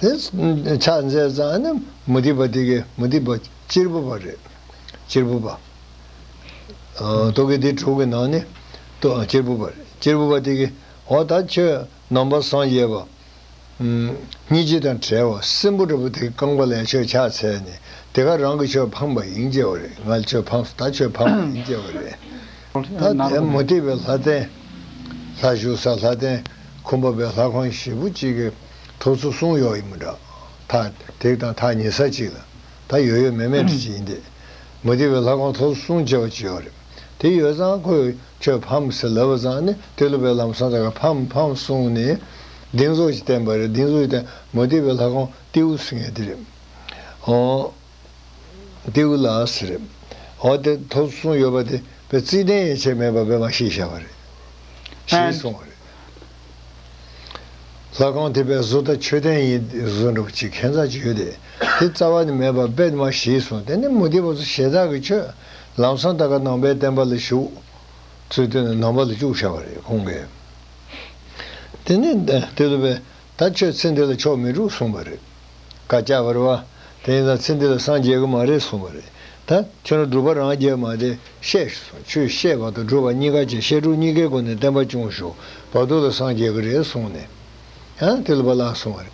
དེ་ཕྱག་མཛད་གཙང་ནི་མུ་སྟེགས་པ་སྟེ་གེ་མུ་སྟེགས་པ་གཅེར་བུ་པ་རེད། གཅེར་བུ་པ། རྟོག་གེ་སྡེ་དྲུག་གི་ནང་ནས་གཅེར་བུ་པ་རེད། གཅེར་བུ་པ་སྟེ་གེ། འོ་ད་ཁྱོད་ནང་པ་སངས་རྒྱས་པ། སྙིང་རྗེ་དང་བྲལ་བ་སྲིན་པོ་འདྲ་བོ་དེ་རྐང་པ་ལས་ཁྱོད་ཕྱག་འཚལ་ནས་དེ་ག་རང་གི་ཆོས་ཕངས་པ་ཡིན་སྐྱེ་བ་རེད་ང་ལ་ཆོས་ཕངས་སོ་ད་ཆོས་ཕངས་པ་ཡིན་སྐྱེ་བ་རེད། ད་ལྟའི་མུ་སྟེགས་པའི་ལྷ་རྟེན། ལྷ་བཞུགས་ས་ལྷ་རྟེན་ཁུམ་པ་པའི་ལྷ་ཁང་བཞི་པོ་གཅིག་གི་ཐོག་ཚོ་གསུམ་གཡོག་ཡིན་མོད། ཐག་རྡེག་དང་ཐག་ཉེ་ས་གཅིག་ལ་ད་ཡོད་ཡོད་མེད་མེད་འདྲ་གཅིག་ཡིན་ཏེ། མུ་སྟེགས་པའི་ལྷ་ཁང་ཐོག་གསུམ་བཅས་པ་གཅིག་ཡོད་རེད། དེ་ཡོད་ཙང་ཁོས་ཁྱོད་ཕམ་ཟེར་ལབ་པ་ཙང་ནི་ཏེ་ལོ་པའི་ལམ་སང་ད་ག་ཕམ་ཕམ་གསུངས་ནས་སྡིགས་མཛུབ་ཅིག་བསྟན་པ་རེད་སྡིགས་མཛུབ་ཅིག་བསྟན་མུ་སྟེགས་པའི་ལྷ་ཁང་ཏེའུ་ཟེར་ངེས་དེ་རེད། ཏེའུ་ལ་ཟེར། འོ་དེ་ཐོབ་གསུངས་ཡོད་པ་དེ་པས་རྩིས་གདན་ཡན་ཆད་མེད་པ་བས་མ་ཤེས་བྱ་བ་རེད། ཞེས་གསུངས་བ་རེད། ལྷ་ཁང་དེ་པས་བཟོ་ལྟ་མཆོད་རྟེན་ཡིན་ཏེ་བཟོ་འགྲོ་བ་གཅིག་མཁན་བཙག་ཅིག་ཡོད་དེ། དེ་རྩ་བ་ནས་མེད་པ་བས་མ་ཤེས་གསུངས་དེ་ནས་མུ་ཏིག་པ་ཚོ་ཞལ་ཐག་གིས་ཆོད། ལམ་སང་ད་ག་ནང་པའི་བསྟན་པ་ལ་ཞུགས། ཚུལ་བསྟན་ནས་ནང་པ་ལ་བཅུག་བྱ་བ་རེད་གསུངས་པས། དེ་ནས་ཏེ་ལོ་པས་ད་ཁྱོད་ཚེ་འདི་ལ་ཆོག་མི་འགྲུབ་གསུངས་པ་རེད། བཀའ་སྐྱག་བར་བ། དེ་ཡིན་ན་ཚེ་འདི་ལ་སངས་རྒྱས་ཀྱི་མ་རེད་གསུངས་པ་རེད། ད་ཁྱོད་རང་སྒྲུབ་པ་རང་རྒྱལ་མ་སྟེ་ཤེས་ཤིག་གསུངས་ཆུ་ཤེས་པ་དང་སྒྲུབ་པ་གཉིས་ཀ་བྱས་བཤད་སྒྲུབ་གཉིས་ཀའི་སྒོ་ནས་བསྟན་པ་སྐྱོང་ཤོག་བར་དོ་ལ་སངས་རྒྱས་ཀྱི་རེད་གསུངས་ནས། ཡང་དེ་ལ་བ་ལགས་གསུངས་པ་རེད།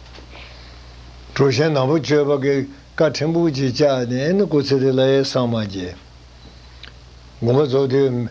གྲུ་ཆེན་ནག་པོ་གཅོད་པ་ཀེ་ཀ་ཕྲན་བུ་གཅིག་བཅག་ནས་ཨེ་ནི་སྐུ་ཚེ་དེ་ལ་ཡེ་སངས་མ་རྒྱས། དགོངས་པ་རྫོགས་དུས་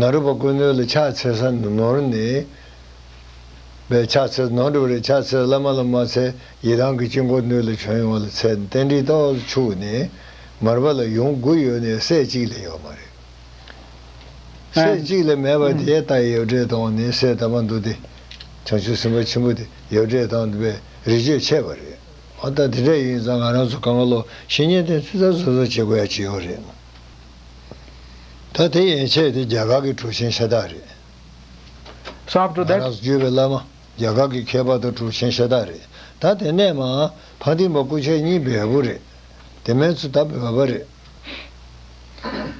ནཱ་རོ་པ་ཀུན་ནོད་ལ་ཕྱག་འཚལ་ས་ནོར་ནི། པའི་ཕྱག་འཚལ་ནོར་འགྲུབ་རེ་ཕྱག་འཚལ་བླ་མ་ལ་མ་འཚལ་ཡི་རང་གི་དཀྱིལ་འཁོར་ནོད་ལ་བྱོན་ཡོང་བ་ལ་འཚལ་རྟེན་འདྲིལ་ཏོག་ལ་ཕྱུག་ནི། མར་པ་ལ་ཡུངས་དགུ་ཡོད་ནི་སྲས་གཅིག་ལས་ཡོད་མ་རེད། སྲས་གཅིག་ལས་མེད་པ་དེའི་རྟགས་ཡོ་བྲེ་དང་ནི་སྲས་དམ་པ་འདུག་སྟེ། བྱང་ཆུབ་སེམས་དཔའ་ཆེན་པོ་དེ་ཡོ་བྲེ་དང་འདུག་པས་རི་ཆོས་འཆད་པ་རེད། ད་དེ་འདྲ་ཡིན་ཙང་ང་རང་ཚོ་གངྒཱ་ལོག་བཤེས་གཉེན་ཐེན་ཚིག་རྩ་བཟོ་བཟོ་བྱེད་དགོས་ཡ་ཇི་ཡོད་རེད། ད་དེ་ཡན་ཆད་དེ་རྒྱ་གར་གྱི་གྲུ་ཆེན་ཤ་སྟག་རེད། ང་རང་བརྒྱུད་པའི་བླ་མ་རྒྱ་གར་གྱི་མཁས་པ་དང་གྲུ་ཆེན་ཤ་སྟག་རེད། ད་དེ་ནས་མ་ཕ་འདིང་བ་སྐུ་ཕྱྭ་གཉིས་བལ་པོ་རེད། དེ་མན་ཚུ་ད་བལ་པ་རེད།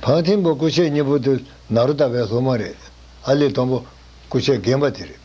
ཕ་འདིང་བ་སྐུ་ཕྱྭ་གཉིས་པོ་དེ་ནཱ་རོ་ད་བལ་ལྷོ་མ་རེད། ཨ་ལི་སྟོང་པོ་སྐུ་ཕྱྭ་རྒན་པ་དེ་རེད།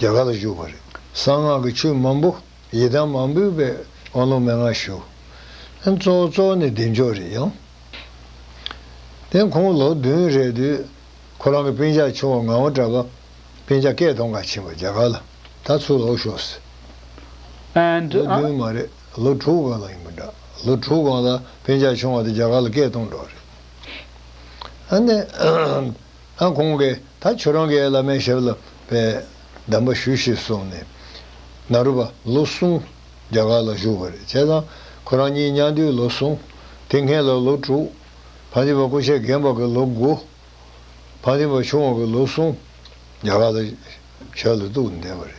རྒྱ་གར་ལ་བཞུགས་པ་རེད། གསང་སྔགས་ཀྱི་ཆོས་མང་པོ། ཡི་དམ་མང་པོའི་དཔལ། དབང་ལུང་མན་ངག་ཞུ། གཙོ་བོ་གཙོ་བོ་ནི་བདེ་མཆོག་རེད་ཡང། དེ་ཁོང་ལོ་བདུན་རེད་དུས། ཁོ་རང་གི་པིན་ཆག་ཆུང་བ་ངང་བ་གྲྭ་པ། པིན་ཆག་སྐད་ཐོང་ག་ཕྱིན་པ་རྒྱ་གར་ལ་ད་ཚུར་ལོག་ཤོག་ཟེར། ལོ་བདུན་མ་རེད་ལོ་དྲུག་གང་ལ་ཡིན་པ་འདྲ། ལོ་དྲུག་གང་ལ་པིན་ཆག་ཆུང་བ་དེ་རྒྱ་གར་ལ་སྐད་ཐོང་འགྲོ་རེད། ཨང་ཁོང་གིས་ད་ཁྱོད་རང་གི་བླ་མའི་ཞབས་ལ་པའི་གདམས་པ་ཞུས་ཞེས་གསུངས་ནས། ནཱ་རོ་པ་ལོ་གསུམ་རྒྱ་གར་ལ་བཞུགས་པ་རེད་བྱས་ཙང་ཁོ་རང་གཉིས་མྱང་དུས་ལོ་གསུམ། དེ་སྔའི་ལ་ལོ་དྲུག། བང་ཆེན་པ་སྐུ་མཆེད་རྒན་པ་གི་ལོ་དགུ། བང་ཆེན་པ་ཆུང་བ་གི་ལོ་གསུམ་རྒྱ་གར་ལ་ཞབས་ལ་གཏུགས་ནས་བསྡད་པ་རེད།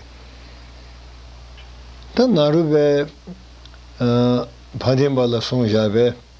ད་ནཱ་རོ་པས་བང་ཆེན་པ་ལ་གསུངས་བཞག་པས།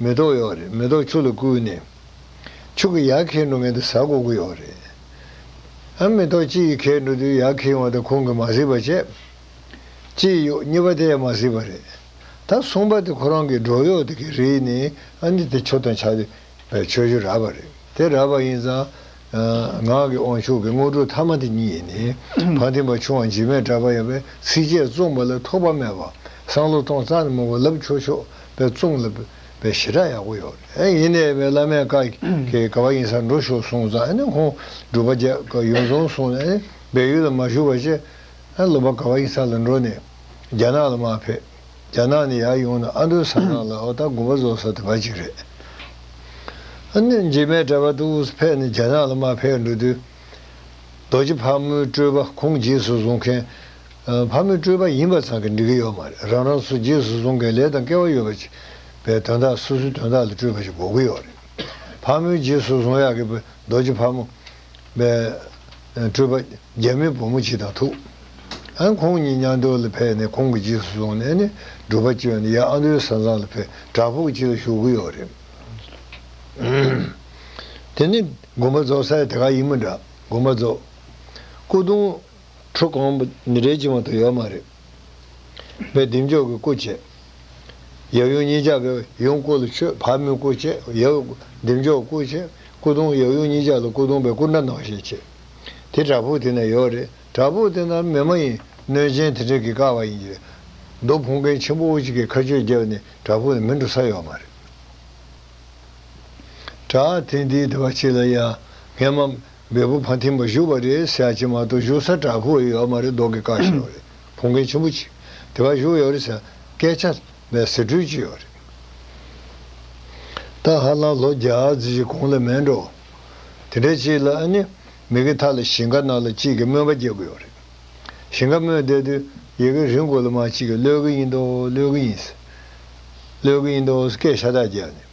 མེ་ཏོག་ཡོད་རེད་མེ་ཏོག་ཕྱུགས་ལ་བསྐུས་ནས། ཕྱུགས་ཀྱི་ཡག་ཁེལ་འགྲོ་མེད་དུ་ཟ་དགོ་གི་ཡོད་རེད། ཨ་མེ་ཏོག་སྤྱི་ཡི་ཁེལ་འགྲོ་དུས་ཡག་ཁེལ་ཡོང་ད་ཁོང་གིས་མ་གཟིགས་པ་བྱས། སྤྱི་ཡི་གཡོག་གཉིས་པ་དེ་ཡང་མ་གཟིགས་པ་རེད། ད་གསུངས་པ་དེ་ཁོ་རང་གིས་འབྲོག་གཡོག་དེ་གི་རིགས་ནི་ཨ་འདི་དེ་ཆོ་དང་ཆ་དེ་བས་ཆོས་ཞུ་རག་པ་རེད་དེ་རག་པ་ཡིན་ཙང། ངག་གི་དབང་ཕྱུག་གི་དངོས་གྲུབ་ཐ་མ་དེ་ཉིད་ཡིན། བ་དན་པ་ཆུང་བ་འཇིགས་མེད་གྲགས་པ་ཡང་བས་ཚིགས་བཅད་བཙུངས་པ་ལ་ཐུག་པ་སྨྲས་པ། བསང་ལོ་སྟོང་རྩ་ནི་མོ་བ་ལབ་ཆོག་ཆོག་པས་བཙུངས་ལ་བས་ཞེ་དྲག་ཡག་པོ་ཡོད་རེད་ཡིན་ནའི་བས་བླ་མས་བཀའ་གི་ག་བ་ཡིན་སར་འགྲོ་ཞོག་གསུངས་རྩ་ནི་ཁོང་སྒྲུབ་པ་རྒྱ་གར་ཡོང་སོང་གསུངས་ནས་བས་ཡུལ་ལ་མ་བཞུགས་པ་བཅས་སློབ་པ་ག་བ་ཡིན་སར་ལ་འགྲོ་ནས་རྒྱ་ནག་ལ་མ་ཕེབས། རྒྱ་ནག་ནི་ཡར་ཡོང་ན་ཨ་མདོའི་ས་གནང་ལ་ཨོ་ད་དགོངས་པ་རྫོགས་ས་དེ་བ་གཅིག་རེད། གནོད་འཇིགས་མའི་གྲྭ་པ་ཏུའུ་སི་ཕེ་ནི་རྒྱ་ནག་ལ་མ་ཕེབས་འགྲོ་དུས། རྡོ་རྗེ་ཕག་མོའི་སྤྲོས་པ་ཁོང་རྗེས་སུ་བཟུང་མཁན། ཕག་མོའི་སྤྲོས་པ་ཡིན་པ་ཚང་གི་འགྲིག་གི་ཡོད་མ་རེད་རང་རང་སུ་རྗེས་སུ་བཟུང་མཁན་ལས་དང་སྐལ་བ་ཡོད་པ་ཅིག་པའི་དོན་དག་སོ་སོའི་དོན་དག་ལ་སྤྲོས་པ་ཞིག་འགོག་གི་ཡོད་རེད། ཕག་མོའི་རྗེས་སུ་བཟུང་ཡག་གི་རྡོ་རྗེ་ཕག་མོ། སྤྲུལ་པ་རྒྱ་མི་བུ་མོ་གཅིག་དང་ཐུག། ཨ་ཁོང་གཉིས་གཉའ་མདོ་ལ་ཕེབས་ནས་ཁོང་གི་རྗེས་སུ་བཟུང་ནས་ནི་སྒྲུབ་པ་བཅོལ་ནས་ཡང་ཨ་མདོའི་ས་གཙང་ལ་ཕེབས་བྲག་ཕུག་ཅིག་ལ་བཞུགས་ཀྱི་ཡོད་རེད། དེ་ནི་དགོན་པ་རྫོགས་ས་ཡང་དེ་ག་ཡིན་མོད་འདྲ་དགོན་པ་རྫོགས། སྐུ་གདུང། ཁྲུ་གང། རེ་བཅིང་བ་དང་ཡོད་མ་རེད། བས་བདེ་མཆོག་གི་སྐུ་བྱས། ཡབ་ཡུམ་གཉིས་ཆ་གི་ཡུམ་སྐུ་ལ་མཆོད་བར་མོའི་སྐུ་བྱས། ཡབ་བདེ་མཆོག་སྐུ་བྱས། སྐུ་གདུང་ཡབ་ཡུམ་གཉིས་ཆ་ལ་སྐུ་གདུང་བས་སྐུ་འདྲ་ནག་ཞེས་བྱས། དེ་བྲག་ཕུག་དེ་ན་ཡོད་རེད། བྲག་ཕུག་དེ་ན་མེ་མ་ཡིན་གནོད་སྦྱིན་དེ་འདྲས་ཀྱིས་བཀག་པ་ཡིན་གྱི། རྡོ་ཕུང་མཁན་ཆེན་པོ་བོ་གཅིག་གིས་ཁ་ཆོད་བརྒྱབ་ནས་བྲག་ཕུག་ནས་མི་འགྲོ་ས་ཡོད་མ་རེད། བྲག་དེ་འདིའི་དེ་བ་གཅིག་ལ་ཡང་ངས་མ། འབེལ་པོ་ཕ་མཐིང་པ་བཞུགས་པ་རེད་ཟེར་ཡག་ཅིག་མ་གཏོགས་བཞུགས་ས་བྲག་ཕུག་ཡོད་མ་རེད་མདོག་གི་བཀའ་བཞིན་ཡོད་རེད་བོང་རྒན་ཆེན་པོ་ཅིག་དེ་གར་བཞུགས་ཡོད་རེད་ཟེར་སྐད་ཆ་མེད་ཟེར་འཁྲུལ་གྱི་ཡོད་རེད་ད་ཧ་ལམ་ལོ་བརྒྱ་རྩིས་ཀྱི་གོང་ལ་མེད་འགྲོ་དེ་འདྲའི་ཅིག་ལ་ཨ་ནི་མི་གི་མཐའ་ལ་ཞིང་ཁ་ནང་ལ་ཅིག་གི་སྨོན་པ་རྒྱག་གི་ཡོད་རེད་ཞིང་ཁ་སྨོན་བསྡད་དུས་ཡི་གི་རིང་གོ་ལ་མ་ཅིག་གི་གློད་གི་ཡིན་མདོག་གློད་གི་ཡིན་ཟེར་གློད་གི་ཡིན་མདོག་ཟེར་སྐད་ཤ་སྟག་རྒྱག་ནས།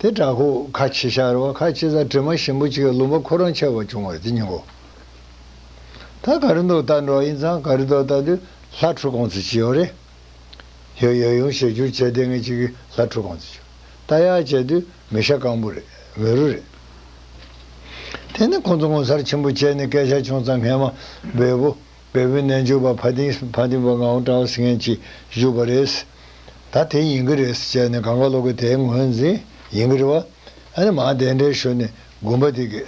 དེ་དྲག་ཁུ་ཁ་ཕྱེ་ཤ་ར་བ་ཁ་ཕྱེ་ཟ་དྲི་མ་ཞིམ་པོ་གཅིག་བླུན་པ་ཁོ་རང་ཆེ་བ་ཆུང་བར་དེ་སྙིང་པོ་ད་ག་རེ་འདུག་ལྟ་འགྲོ་ཡིན་ཙང་ག་རེ་འདུག་ལྟ་དུས་ལྷ་འཁྲུ་གོང་ཚེ་ཅི་ཡོང་རེད་ཡོད་ཡོད་ཡོང་ཞེས་བསྒྱུར་བྱས་ལྟས་ངན་ཅིག་གིས་ལྷ་འཁྲུ་གོང་ཚེ་ཆུ་ལྟ་ཡག་བྱས་དུས་མི་ཤ་སྐམ་པོ་རེད་མི་རུ་རེད། དེ་ནི་ཁོང་ཚོ་ངོ་མཚར་ཆེན་པོ་བྱས་ནས་སྐད་ཆ་ཆུང་ཙང་ངན་མ་འབོད་པོ། བལ་བོའི་རྣལ་འབྱོར་པ་བྷ་ཏིང་བྷ་ཏིང་བ་ངའོ་ཀྲའོ་སི་ངན་གྱིས་བཞུགས་པ་རེད། ད་དེ་ཡིན་གྱི་རེད་ཟེར་ནས་གང་ག་ལོག་གི་དེའི་ངོས་འཛིན་ཡིན་གྱི་རེད་བ། ཨ་ནི་མ་དེ་འདྲའི་ཞོར་ནས་དགོན་པ་དེ་གི་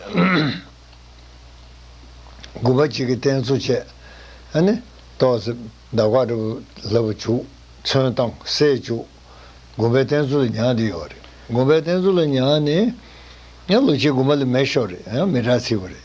དགོན་པ་གཅིག་གི་རྟེན་གཙོ་བྱས་ཨ་ནི་ཏོག་ཙེ་འདབ་ཁ་འདྲ་བོ་ལབ་བ་བྱུག་ཚོན་བཏང་སེ་བྱུག་དགོན་པའི་རྟེན་གཙོ་ལ་ཉག་དེ་ཡོད་རེད་དགོན་པའི་རྟེན་གཙོ་ལ་ཉག་ནི། ལོ་གཅིག་དགོན་པ་ལ་མེད་ཤོར་རེད་མི་གྲགས་ཚིག་པ་རེད།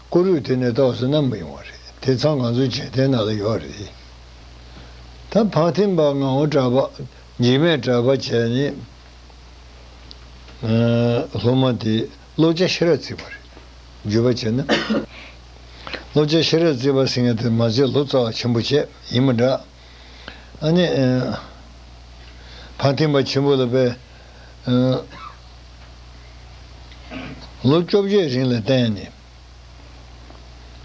བཀུར་འོས་དེ་ནས་ཏོག་སོ་ནམ་མི་ཡོང་བ་རེད་དེ་ཚང་ང་ཚོ་བྱེད་ཐེན་ནང་ལ་ཡོད་རེད་ད་ཕག་ཐེན་པ་ང་འོ་གྲ་པ་འཇིགས་མེད་གྲ་པ་བྱས་ནས་སློབ་མ་དེ་སློབ་བྱ་ཤེས་རབ་བརྩིས་པ་རེད་བརྗོད་པ་བྱས་ན་སློབ་བྱ་ཤེས་རབ་བརྩིས་པ་སེང་གེ་དེ་མ་བརྩིས་ལོ་ཙཱ་བ་ཆེན་པོ་བྱས་ཡིན་མི་འདྲ། ཨ་ནེ། བར་ཐེམ་པ་ཆེན་པོ་ལ་པའི། ལོ་བཅོ་བརྒྱད་རིང་ལ་བརྟེན་ནས།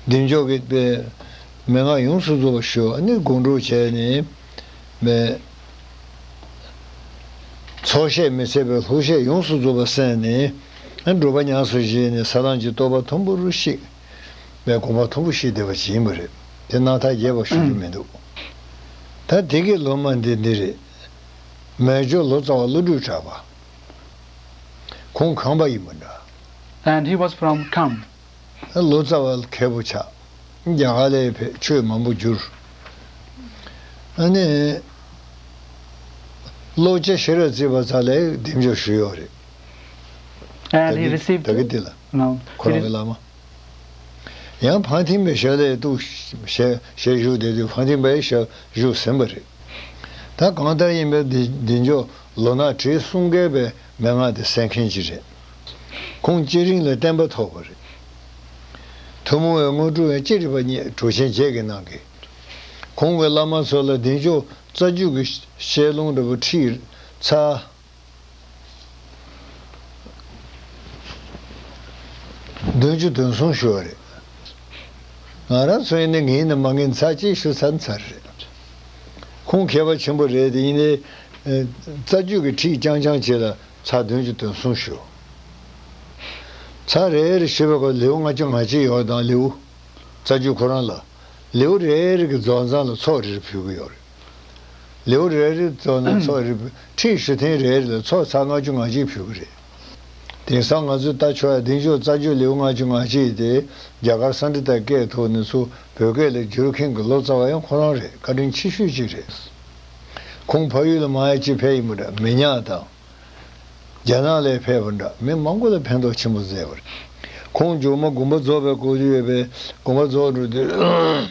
བདེ་མཆོག་གི་པའི། མན་ངག་ཡོངས་སུ་རྫོགས་པར་ཞུ། ཨ་ནེ་དགོངས་དྲོ་བྱས་ནས། པའི། ཚོགས་བཤད་མི་ཚད་པའི་ལྷུག་བཤད་ཡོངས་སུ་རྫོགས་པར་གསན་ནས། འགྲོ་པ་ཉམས་སུ་བཞེས་ནས་ས་བླངས་ཀྱི་བསྟོད་པ་དུམ་བུ་རུ་གཤེགས། པའི་དགོངས་པ་མཐོ་པོ་ཞིག་བསྡད་པ་ཇི་ཡིན་པ་རེད་དེ་སྣང་ཐག་རྒྱས་པར་ཞུ་རྒྱུ་མི་འདུག་ད་དེ་གའི་ལོ་མ་འདི་འདི་རེད། མལ་ཇོ་ལོ་ཙཱ་བ་བློ་གྲོས་གྲགས་པ། ཁོང་གངས་པ་ཡིན་པ་འདྲ། And he was from Kham། ལོ་ཙཱ་བ་མཁས་པོ་ཆགས། རྒྱ་གར་ལས་ཕེབས་ཆོས་མང་པོ་བསྒྱུར། ཨ་ནི། བློ་དཔྱ་ཤེས་རབ་བརྩེགས་པ་ཙཱ་ལའི་གདེང་འཇོག་ཞུས་ཡོད་རེད། And he received། ད་གི་དེ་ལ། ཁོ་རང་གི་བླ་མ། ཡང་ཕང་ཐིང་པའི་ཞབས་ལས་གཏུགས། ཞལ་བཞུགས་དེ་དུས་ཕང་ཐིང་པའི་ཞབས་བཞུགས་ཟིན་པ་རེད། ད་གང་ལྟར་ཡིན་པའི་འདི་མཆོག་ལོ་ནག་ཁྲིའི་གསུང་སྐལ་པའི་མན་ངག་དེ་གསན་མཁན་གཅིག་རེད། ཁོང་སྐྱེས་རིང་ལ་བསྟན་པ་ཐོག་པ་རེད། ཐུན་མོང་བའི་དངོས་གྲུབ་ཡང་ཅི་རིགས་པ་སྙེད་གྲུབ་ཆེན་བརྒྱད་ཀྱིས་གནང་གི། ཁོང་གི་བླ་མ་ཚོ་ལ་འདི་མཆོག་རྩ་རྒྱུད་ཀྱི་བཤད་ལུང་འདྲ་པོ་ཁྲིད་ཚར། བདུན་ཅུ་དོན་གསུམ་ཞུ་བ་རེད། ང་རང་ཚོ་ཡིན་ནའི་ངའི་ནི་མ་ངའི་མཚར་སྐྱེས་ཞུ་ཚར་མཚར་རེད། ཁོང་མཁས་པ་ཆེན་པོ་རེད་དེ་ཡིན་ནའི། རྩ་རྒྱུད་ཀྱི་ཁྲིད་རྐྱང་རྐྱང་བྱེད་ལ་ཚར་བདུན་ཅུ་དོན་གསུམ་ཞུ། མཚར་རེད་རེད་ཞུས་པའི་སྐོར་ལེའུ་ལྔ་ཅུ་ང་གཅིག་ཡོད་དང་ལེའུ། རྩ་རྒྱུད་ཁོ་རང་ལ། ལེའུ་རེ་རེ་གི་རྫོགས་མཚམས་ལ་ཚོགས་རེ་རེ་ཕུལ་གྱི་ཡོད་རེད། ལེའུ་རེ་རེ་བཙོག་ན་ཚོགས་རེ་ཁྲི་བཞི་ཐེངས་རེ་རེ་ལ་ཚོགས་ཚར་ལྔ་བཅུ་ང་གཅིག་ཕུལ་བ་རེད། དེང་སང་ང་ཚོས་ལྟ་ཆོག་ཡ་གདེང་འཇོག་རྩ་འཇོག་ལེའུ་ལྔ་བཅུ་ང་གཅིག་དེ་རྒྱ་གར་ས་འབྲི་དང་སྐད་ཐོག་ནས་ཚུར་བོད་སྐད་ལ་བསྒྱུར་མཁན་གྱི་ལོ་ཙཱ་བ་ཡང་ཁོ་རང་རེད་བཀའ་དྲིན་ཆེ་ཤོས་གཅིག་རེད། ཁོང་ཕ་ཡུལ་ལ་མ་ཡ་ཅི་ཕེབས་ཡིན་པ་འདྲ་མི་ཉག་དང། རྒྱ་ནག་ལས་ཕེབས་པ་འདྲ་མི་མང་པོ་ལ་ཕན་ཐོགས་ཆེན་པོ་མཛད་པ་རེད། ཁོང་མཇུག་མ་དགོན་པ་རྫོགས་པའི་སྐོར་བརྗོད་པས་དགོན་པ་རྫོགས་འགྲོ་དུས།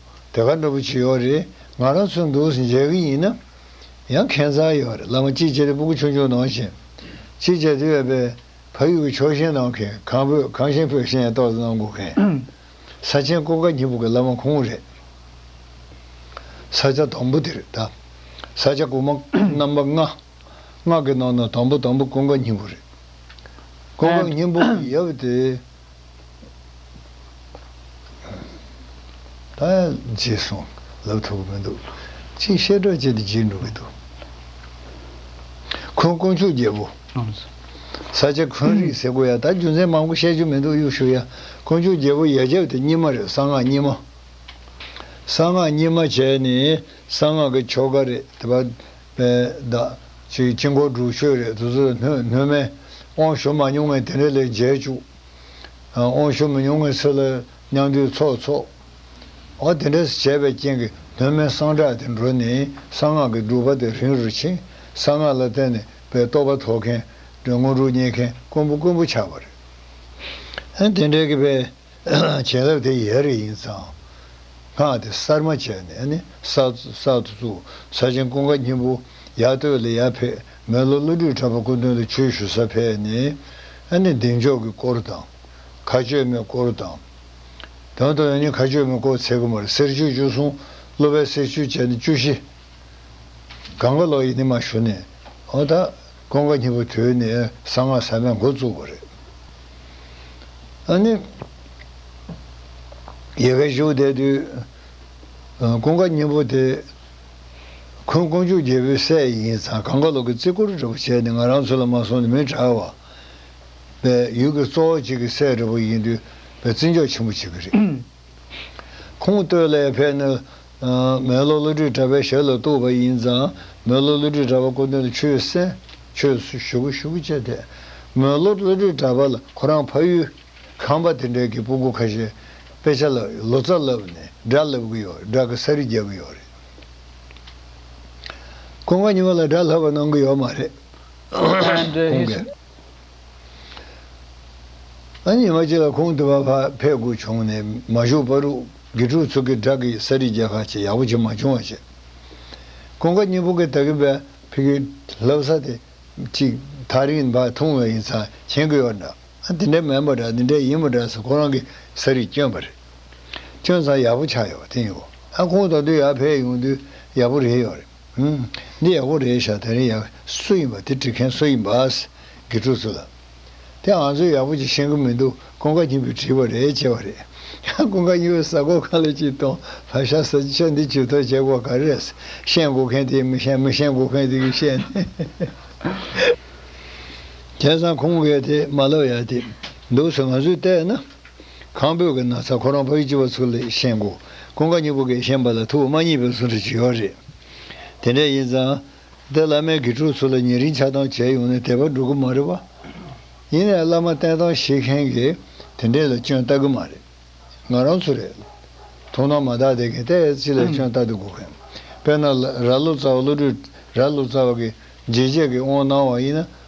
དེ་ག་འདྲ་པོ་བྱེད་ཡོད་རེད་ང་རང་ཚོའི་འདུག་སེ་མཇལ་གི་ཡིན་ན་ཡང་ཁེན་ཚར་ཡོད་རེད་བླ་མ་གཅིག་བྱས་ཏེ་སྤུ་གུ་ཆུང་ཆུང་ནང་བཞིན་གཅིག་བྱས་ཏེ་ཡོད་པས་ཕ་ཡུལ་གྱི་ཕྱོགས་ཞེན་ནང་གི་གང་བོད་གང་ཞེན་བོད་ཞེན་ཏོག་ཙེ་གནང་དགོས་མཁན་ས་ཆེན་ཀོ་དཀར་སྙི་པོ་གི་བླ་མ་ཁོང་རེད། ས་ཆ་དང་པོ་དེ་རེད་ད། ས་ཆ་དགུ་མ་རྣམ་པ་ལྔ། ལྔ་གི་ནང་ན་དང་པོ་དང་པོ་ཀོ་དཀར་སྙི་པོ་རེད། ཀོ་དཀར་སྙི་པོ་ཡབ་དེ། ད་བརྗེད་སོང་ལབ་ཐུབ་ཀྱི་མི་འདུག་ཅིག་བཤད་སྒྲ་བཅད་དེ་བརྗེད་འགྲོ་གི་འདུག་ཁོང་དཀོན་མཆོག་རྒྱལ་པོ་ས་སྐྱ་ཁོན་རིག་ཟེར་གོ་ཡ་ད་རྒྱུ་མཚན་མང་པོ་བཤད་རྒྱུ་མི་འདུག་གཡུག་ཞུ་ཡ་དཀོན་མཆོག་རྒྱལ་པོ་ཡ་རྒྱབ་དེ་གཉིས་མ་རེད་གསང་སྔགས་གཉིས་མ་གསང་སྔགས་གཉིས་མ་བྱས་ནས་གསང་སྔགས་ཀྱི་ཆོ་ག་རེད་དེ་བ། པའི་བདག། ཅེས་དཀྱིལ་འཁོར་འབྲུག་ཆོས་རས་དུ་ཟིལ་གནོན་སྨན། དབང་ཞུ་མ་མྱོང་བའི་དེ་འདྲའི་ལས་མཇལ་བཅུག། དབང་ཞུ་མི་མྱོང་བའི་སྲིད་ལ་མྱང་འདུས་ཚོགས་འཚོགས། འོ་དེ་འདྲས་བྱས་པའི་རྐྱེན་གྱིས་གནོན་སྨན་གསང་བསྒྲགས་དེ་འགྲོ་ནས་གསང་སྔགས་ཀྱི་སྒྲུབ་པ་དེ་རིང་རུ་ཕྱིན། གསང་སྔགས་ལ་བརྟེན་ནས་པའི་རྟོགས་པ་ཐོབ་མཁན། དངོས་གྲུབ་རྙེད་མཁན་དཀོན་པོ་དཀོན་པོ་ཆགས་པ་རེད། དེ་འདྲས་ཀྱི་པའི། བྱིན་རླབས་དེ་ཡལ་རེ་ཡིན་ཙང། སྔགས་དེ་གསར་མ་བྱས་ནས་ནི་གསར་དུ་བཙུགས། ས་ཆེན་ཀུན་དགའ་སྙིང་པོ་ཡར་བསྟོད་ལ་ཡར་ཕེབས་མེ་ལོ་ཀླུ་སྦྲུལ་ཁྲ་པ་སྐུ་མདུན་ལ་ཆོས་ཞུ་ས་ཕེབས་ནས་ནི་གདེང་འཇོག་གི་སྐོར་དང། མཁའ་སྤྱོད་མའི་སྐོར་དང། དང་དུ་ནས་ནི་མཁའ་སྤྱོད་མའི་སྐོར་ཚེ་གུ་མར་གསེར་ཆོས་བཅུ་གསུང། གླུ་བའི་གསེར་ཆོས་བཅས་ནི་བཅུ་བཞི། གངྒཱ་ལོ་ཡི་ནི་མ་ཞུ་ནས། ཀོང་ཀ་གཉིས་པོ་དོད་ནས་གསང་སྔགས་ས་ན་འགོ་བཙུགས་པ་རེད། ཨ་ནི། ཡལ་གའི་བཞུགས་གདན་དུས། ཀོང་ཀ་གཉིས་པོ་དེ། ཁོང་དཀོན་མཆོག་རྒྱལ་པོའི་སྲས་ཡིན་ཙང་གངས་ཀ་ལོག་གི་རྩིས་འཁོར་རེ་བོ་བྱས་ནས་ང་རང་ཚོ་ལ་མ་སོང་ནས་མི་གྲགས་བ། བས་ཡུལ་གྱི་གཙོ་བོ་གཅིག་གི་སྲས་རེ་བོ་ཡིན་དུས་བས་བརྩི་འཇོག་ཆེན་པོ་བྱེད་ཀྱི་རེད། ཁུངས་བཏོད་ཀླད་ཕལ་ནི། མོན་ལོ་བློ་གྲོས་གྲྭ་པའི་ཞལ་ལ་གཏུགས་པ་ཡིན་ཙང་མོན་ལོ་བློ་གྲོས་གྲྭ་པ་སྐུ་དོན་ཆོས་གསན། ཆོས་སུ་བཞུགས་བཞུགས་བཅས་ཐད། མོན་ལོ་བློ་གྲོས་གྲྭ་པ་ལ་ཁོ་རང་ཕ་ཡུལ། ཁང་པ་དེ་འདྲའི་གི་སྤུ་གུ་ཁ་ཤས། དཔེ་ཆ་ལ་ལོ་ཙཱ་བསླབས་ནས་སྒྲ་བསླབ་གི་ཡོད་སྒྲ་གི་ས་རི་རྒྱག་གི་ཡོད་རེད། ཁོང་ག་ཉི་མ་ལ་སྒྲ་བསླབ་པ་གནང་གི་ཡོད་མ་རེད། ཁོང་གིས། ཉི་མ་གཅིག་ལ་ཁོང་དུ་བ་ཕ་ཕས་སྒུག་བྱུང་ནས་མ་བཞུགས་པར་དགེ་ཕྲུག་ཚོ་གི་སྦྲགས་ཀྱི་ས་རིས་རྒྱ་ཁ་ཆེ་ཡག་པོ་ཆེ་མ་བྱུང་བ་བྱས། ཀོང་ཀ་གཉིས་པོ་གི་ད་གིན་པའི་ཕི་གི་ལབ་ས་དེ་གཅིག་ཐག་རིང་བ་ཐུང་བས་ཡིན་ཚང་མཁྱེན་དགོས་པ་འདྲ་དེ་འདྲ་མིན་པ་འདྲ་དེ་འདྲ་ཡིན་པ་འདྲ་སོ་ཁོ་རང་གི་ས་རིས་སྐྱོན་པ་རེད། སྐྱོན་ཚང་ཡག་པོ་ཆགས་ཡོད་པ་དེ་ཡིན་གོ་ཨ་ཁོང་ད་དུས་ཡར་ཕེབས་ཡོང་དུས་ཡག་པོ་རེད་ཡོད་རེད། འདི་ཡག་པོ་རེད་ཤག་དེ་རིང་ཡང་སུ་ཡིན་པ་དེ་འབྲི་མཁན་སུ་ཡིན་པ་དགེ་ཕྲུག་ཚོ་ལ་དེ་ང་ཚོས་ཡག་པོ་ཅིག་ཤེས་གི་མི་འདུག་ཀུན་དགའ་སྙིང་པོས་བྲིས་པ་རེད་ཅེས་པ་རེད། ཀུན་དགའ་སྙིང་པོས་གསར་འགོད་ཁང་ལས་ཅིག་སྟོང་བར་ཤ་ཟ་ཆ་འདི་ཇུས་ཏོག་བྱེད་དགོས་ག་རེ་རེད་ཤེས་འགོ་མཁན་དེ་མི་ཤེས་མི་ཤེས་འགོ་མཁན་དེ་གིས་བཤད་ནས་བྱས་ཙང་ཁོང་གིས་དེ་མ་ལབ་ཡག་དེ་འདུག་ཟེར་ང་ཚོས་བལྟས་ན། ཁང་བོད་ཀྱི་ན་ཚ་ཁོ་རང་ཕ་ཡུལ་སྤྱི་བ་ཚུར་ལས་ཤེས་མགོ་ཀུན་དགའ་སྙིང་པོ་འགས་ཤེས་པ་ལ་ཐུ་བོ་མ་གཉིས་པའི་ཟུར་འདྲི་བྱེད་ཡོད་རེད། དེ་འདྲ་ཡིན་ཙང། འདི་བླ་མའི་དགེ་ཕྲུག་ཚུར་ལ་ཉེ་རིང་ཆགས་སྡང་བྱས་ཡོང་ནས་དད་པ་འགྲོ་གི་མ་རེད་བ། ཡིན་ནའི་བླ་མ་བསྟེན་སྟངས་ཤེས་མཁན་གྱི་དེ་འདྲས་ལ་སྐྱོན་བལྟ་གི་མ་རེད། ང་རང་ཚོ་རེད། ཐུགས་སྣང་མ་དག་དད་མཁན་དེ་སྤྱི་ལ་སྐྱོན་བལྟ་དུ་དགོས་མཁན། དཔེར་ན། ར་བློ་རྩ་བ་བློ་གྲོས། ར་བློ་རྩ་བ་གི་རྗེས་བྱེད་ཀྱི་དབང་གནང་བ་ཡིན་ན།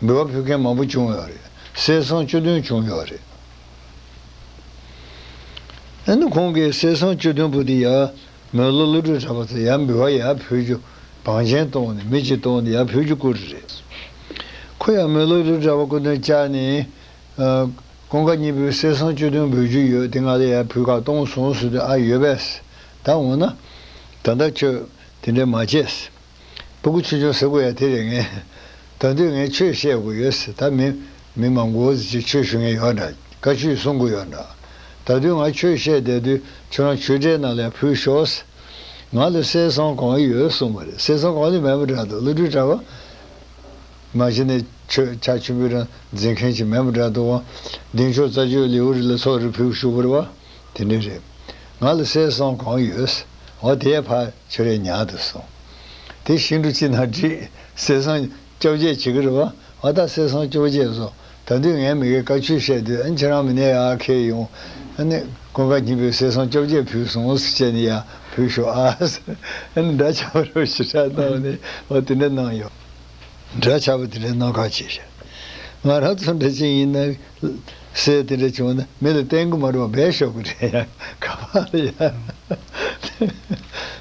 འབུལ་བ་ཕུལ་མཁན་མང་པོ་བྱུང་ཡོད་རེད། གསལ་གསང་བཅུ་བདུན་བྱུང་ཡོད་རེད། ཨ་ནི་ཁོང་གིས་གསལ་གསང་བཅུ་བདུན་པོ་དེ་ཡར་མོའི་བློ་བློ་གྲོས་གྲགས་པ་ཚོས་ཡར་འབུལ་བ་ཡར་ཕུལ་རྒྱུ་བང་ཆེན་བཏོང་ནས་མི་གཅིག་བཏོང་ནས་ཡར་ཕུལ་རྒྱུ་བསྐུར་རེད། ཁོ་ཡར་མོའི་བློ་གྲོས་གྲགས་པ་སྐུ་མདུན་བཅར་ནས། ཀོང་ཀ་གཉིས་པོའི་གསལ་གསང་བཅུ་བདུན་འབུལ་རྒྱུ་ཡོད་དེ་ང་ལ་ཡར་ཕུལ་ཁག་གཏོང་སོང་ཟེར་དུས་ཨ་ཡོད་པས། ད་འོ་ན། ད་ལྟ་ཁྱོད་དེ་འདྲ་མ་བྱེད། སྤུ་གུ་ཆུང་ཆུང་ཟེར་དགོས་ཡ་དེ་རེད་ངས། ད་དུས་ངས་ཆོས་བཤད་དགོས་ཡོད་ཟེར་ད་མི། མི་མང་གོ་ཟེར་ཅིག་ཆོས་ཞུ་ངེས་ཡོད་འདྲ། བཀའ་ཆོས་གསུང་དགོས་ཡོད་འདྲ། ད་དུས་ང་ཆོས་བཤད་བསྡད་དུས་ཁྱོད་རང་ཆོས་གྲའི་ནང་ལས་ཕུད་ཤོག་ཟེར། ང་ལ་སྲས་སྲང་གང་ཡོད་གསུངས་པ་རེད་སྲས་སྲང་གང་ལས་མེད་པ་འདྲ་འདུག་བློ་གྲོས་གྲྭ་བ། མ་གཞི་ནས་ཆོས་ཕྱག་ཆེན་པོའི་རང་འཛིན་མཁན་ཞིག་མེད་པ་འདྲ་འདུག་དབང་ལྡན་ཆོས་རྩ་ཆོས་ལེའུ་རི་ལ་ཚོགས་རེ་ཕུལ་བཞུགས་པར་བ། དེ་འདྲ་རེད། ང་ལ་གསེར་སྲང་གང་ཡོད། འོ་དེའི་ཕ་ཆོས་རའི་ཉག་ཏུ་སོང། དེ་ཤིང་གྲུ་གཅིག་ན་བྲིས། གསེར་སྲང་བཅོ་བརྒྱད་བྱེད་ཀྱི་རེད་བ། ཨ་ད་གསེར་སྲང་བཅོ་བརྒྱད་བཟོ། ད་དུས་ངས་མི་གའི་བཀའ་ཆོས་བཤད་དུས་ཨ་ཁྱེད་རང་མི་ནས་ཨ་ཁེ་ཡོང། ཨ་ནི། ཀུན་དགའ་སྙིང་པོས་གསེར་སྲང་བཅོ་བརྒྱད་ཕུལ་སོང་ཟེར་བྱས་ནས་ཡར་བུད་ཤོག་ཨ། ཨ་ནི་འདྲ་ཆགས་པ་རེད་བ་ཞེས་ཕྲག་བཏགས་ནས་འོ་དེ་འདྲ་གནང་ཡོང། འདྲ་ཆགས་པ་དེ་འདྲའི་གནང་ཁག་ཅིག་བྱ། ང་རང་ཚོ་འདྲ་ཅན་ཡིན་ན། སྲས་དེ་འདྲ་བྱུང་ན་མི་ལ་བསྟན་གི་མ་རེད་བ་འབད་ཤོག་གི་རེད་ཡ། ཁ་བ་ལ་ཡ།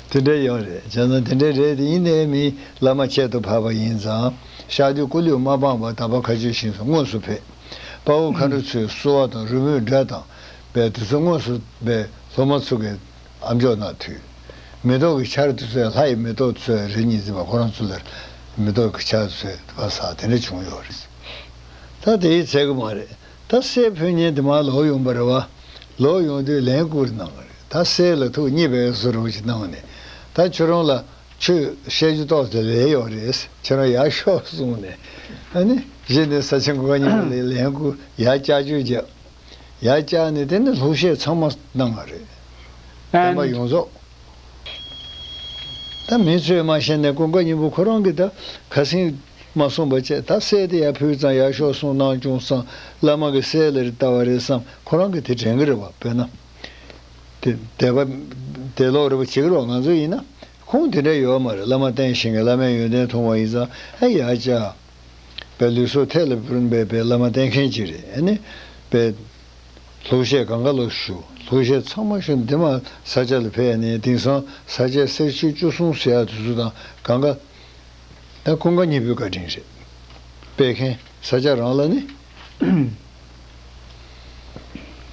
དེ་འདྲའི་ཡོང་རེད་བྱས་ཙང་དེ་འདྲའི་རེད་དེ་ཡིན་ནའི་མིན་བླ་མ་ཁྱད་དུ་འཕགས་པ་ཡིན་ཙང་ཤག་དེ་སྐུ་ལུས་མ་སྤངས་པར་དམ་པ་ཁ་ཆོས་བཞིན་དུ་དངོས་སུ་ཕེབས། དཔའ་བོ་མཁའ་འགྲོ་ཚོའི་གསོལ་བ་དང་རི་བོའི་སྒྲ་དང་བའི་དུས་ཚོད་དངོས་སུ་བས་སློབ་མ་ཚུགས། ཨ་མཆོག་ནག་ཐུའི། མེ་ཏོག་གི་ཆར་དུ་ཚོས་ལྷ་ཡི་མེ་ཏོག་ཚོས་རེ་གཉིས་འཛིན་པ་ཁོ་རང་ཚོ་ལ་མེ་ཏོག་གི་ཆར་ཚོས་ཟ་བ་ཟ་དེ་འདྲ་བྱུང་ཡོད་རེད། ད་དེ་ཡི་ཚད་གི་མ་རེད་ད་སའི་ཕོ་ཉའི་དེ་མ་ལོག་ཡོང་པ་རེད་བ། ལོག་ཡོང་དུས་ལན་བསྐུར་གནང་གི་རེད་ད་སའི་ལ་ཐུགས་མཉེས་པའི་གཟུ་རོགས་ཅིག་གནང་ནས་ད་ཁྱོད་རང་ལ་ཆོས་བཤད་རྒྱུ་ཏོག་ཙེ་ལས་ཡོད་རེད་ཁྱོད་རང་ཡར་ཤོག་གསུངས་ནས། ཨ་ནི། གཞི་ནས་ས་ཆེན་གོ་ག་གཉིས་པ་ལས་ལན་བསྐུར་ཡར་བསྐྱར་བཅོས་བརྒྱབ། ཡ་ཅག་ནི་དེ་ནི་ལྷུག་བཤད་ཚང་མ་གནང་བ་རེད། བསྟན་པ་ཡོངས་རྫོགས། ད་མི་ཚོས་མ་ཤེས་ནས་ཀུན་དགའ་སྙིང་པོ་ཁོ་རང་གིས་ད་ག་ཟིག་མ་གསུངས་པ་བཅས་ད་གསལ་ཏེ་ཡར་ཕུལ་ཙང་ཡར་ཤོག་གསུངས་གནང་བྱུང་བསམ་བླ་མ་གི་སྲས་ལ་རི་བལྟ་བ་རེད་བསམ་ཁོ་རང་གིས་དེ་དྲན་གི་རེད་བ་དཔེར་ན། དེ་བ་དེ་ལོག་རེད་བ་བྱེད་གི་རེད་བ་ང་ཚོ་ཡིན་ན་ཁུངས་དེ་འདྲ་ཡོད་མ་རེད་བླ་མ་བསྟེན་ཞིང་གི་བླ་མའི་ཡོན་ཏན་མཐོང་བ་ཡིན་ཙང་ཡ་ཅག་པའི་ལུས་སྲོག་ཐད་ལ་བུན་པའི་པའི་བླ་མ་བསྟེན་མཁན་གཅིག་རེད་ནི། པའི། ལྷོ་གཞས་གང་ག་ལ་བཞུགས་ལྷོ་གཞས་ཚང་མ་བཞུགས་འདི་མ་ས་སྐྱ་ལ་ཕེབས་ནས་དེང་སང་ས་སྐྱའི་གསེར་ཆོས་བཅུ་གསུང་ཟེར་ཡག་དུས་ཚོད་དང་གང་ག། ཀུན་དགའ་གཉིས་པོའི་བཀའ་དྲིན་རེད། པའི་མཁན་ས་སྐྱ་རང་ལ་ནི།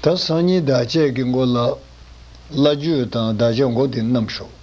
ད་སང་ཉིན་བདག་བསྐྱེད་ཀྱི་མགོ་ལ། བླ་བརྒྱུད་དང་བདག་བསྐྱེད་མགོ་དེ་རྣམས་ཞོག།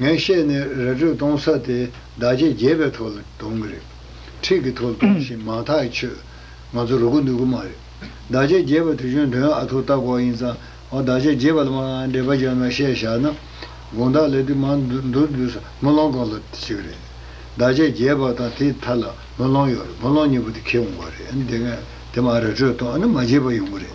ངས་བཤད་ནི་ར་སྤྲོད་གཏོང་ས་དེ་བདག་གཅེས་རྒྱས་པའི་ཐོག་ལ་གཏོང་གི་རེད། འཁྲིས་ཀྱི་ཐོག་ལ་གཏོང་བཞིན་མང་ཐག་གི་ཆོད། ང་ཚོ་རུ་གུ་ནུས་གུ་མ་རེད། བདག་གཅེས་རྒྱས་པ་དེ་གཞོན་དོན་ཨ་ཐུག་ལྟ་གོག་ཡིན་ཙང་འོ་བདག་གཅེས་རྒྱས་པ་ལ་མ་འདྲེས་པ་སྦྱར་ནང་བཤད་བཞག་ན། དགོངས་དག་ལས་དུས་མང་འདུར་འདུར་ས་མུ་ལོང་གང་ལ་ཅི་གི་རེད། བདག་གཅེས་རྒྱས་པ་དང་དེའི་མཐའ་ལ་མུ་ལོང་ཡོད་རེད་མུ་ལོང་གཉིས་པོ་དེ་ཁེལ་འོང་བ་རེད་དེ་མ་ར་སྤྲོད་གཏོང་ཨ་ནི་མ་རྒྱས་པ་ཡོང་གི་རེད།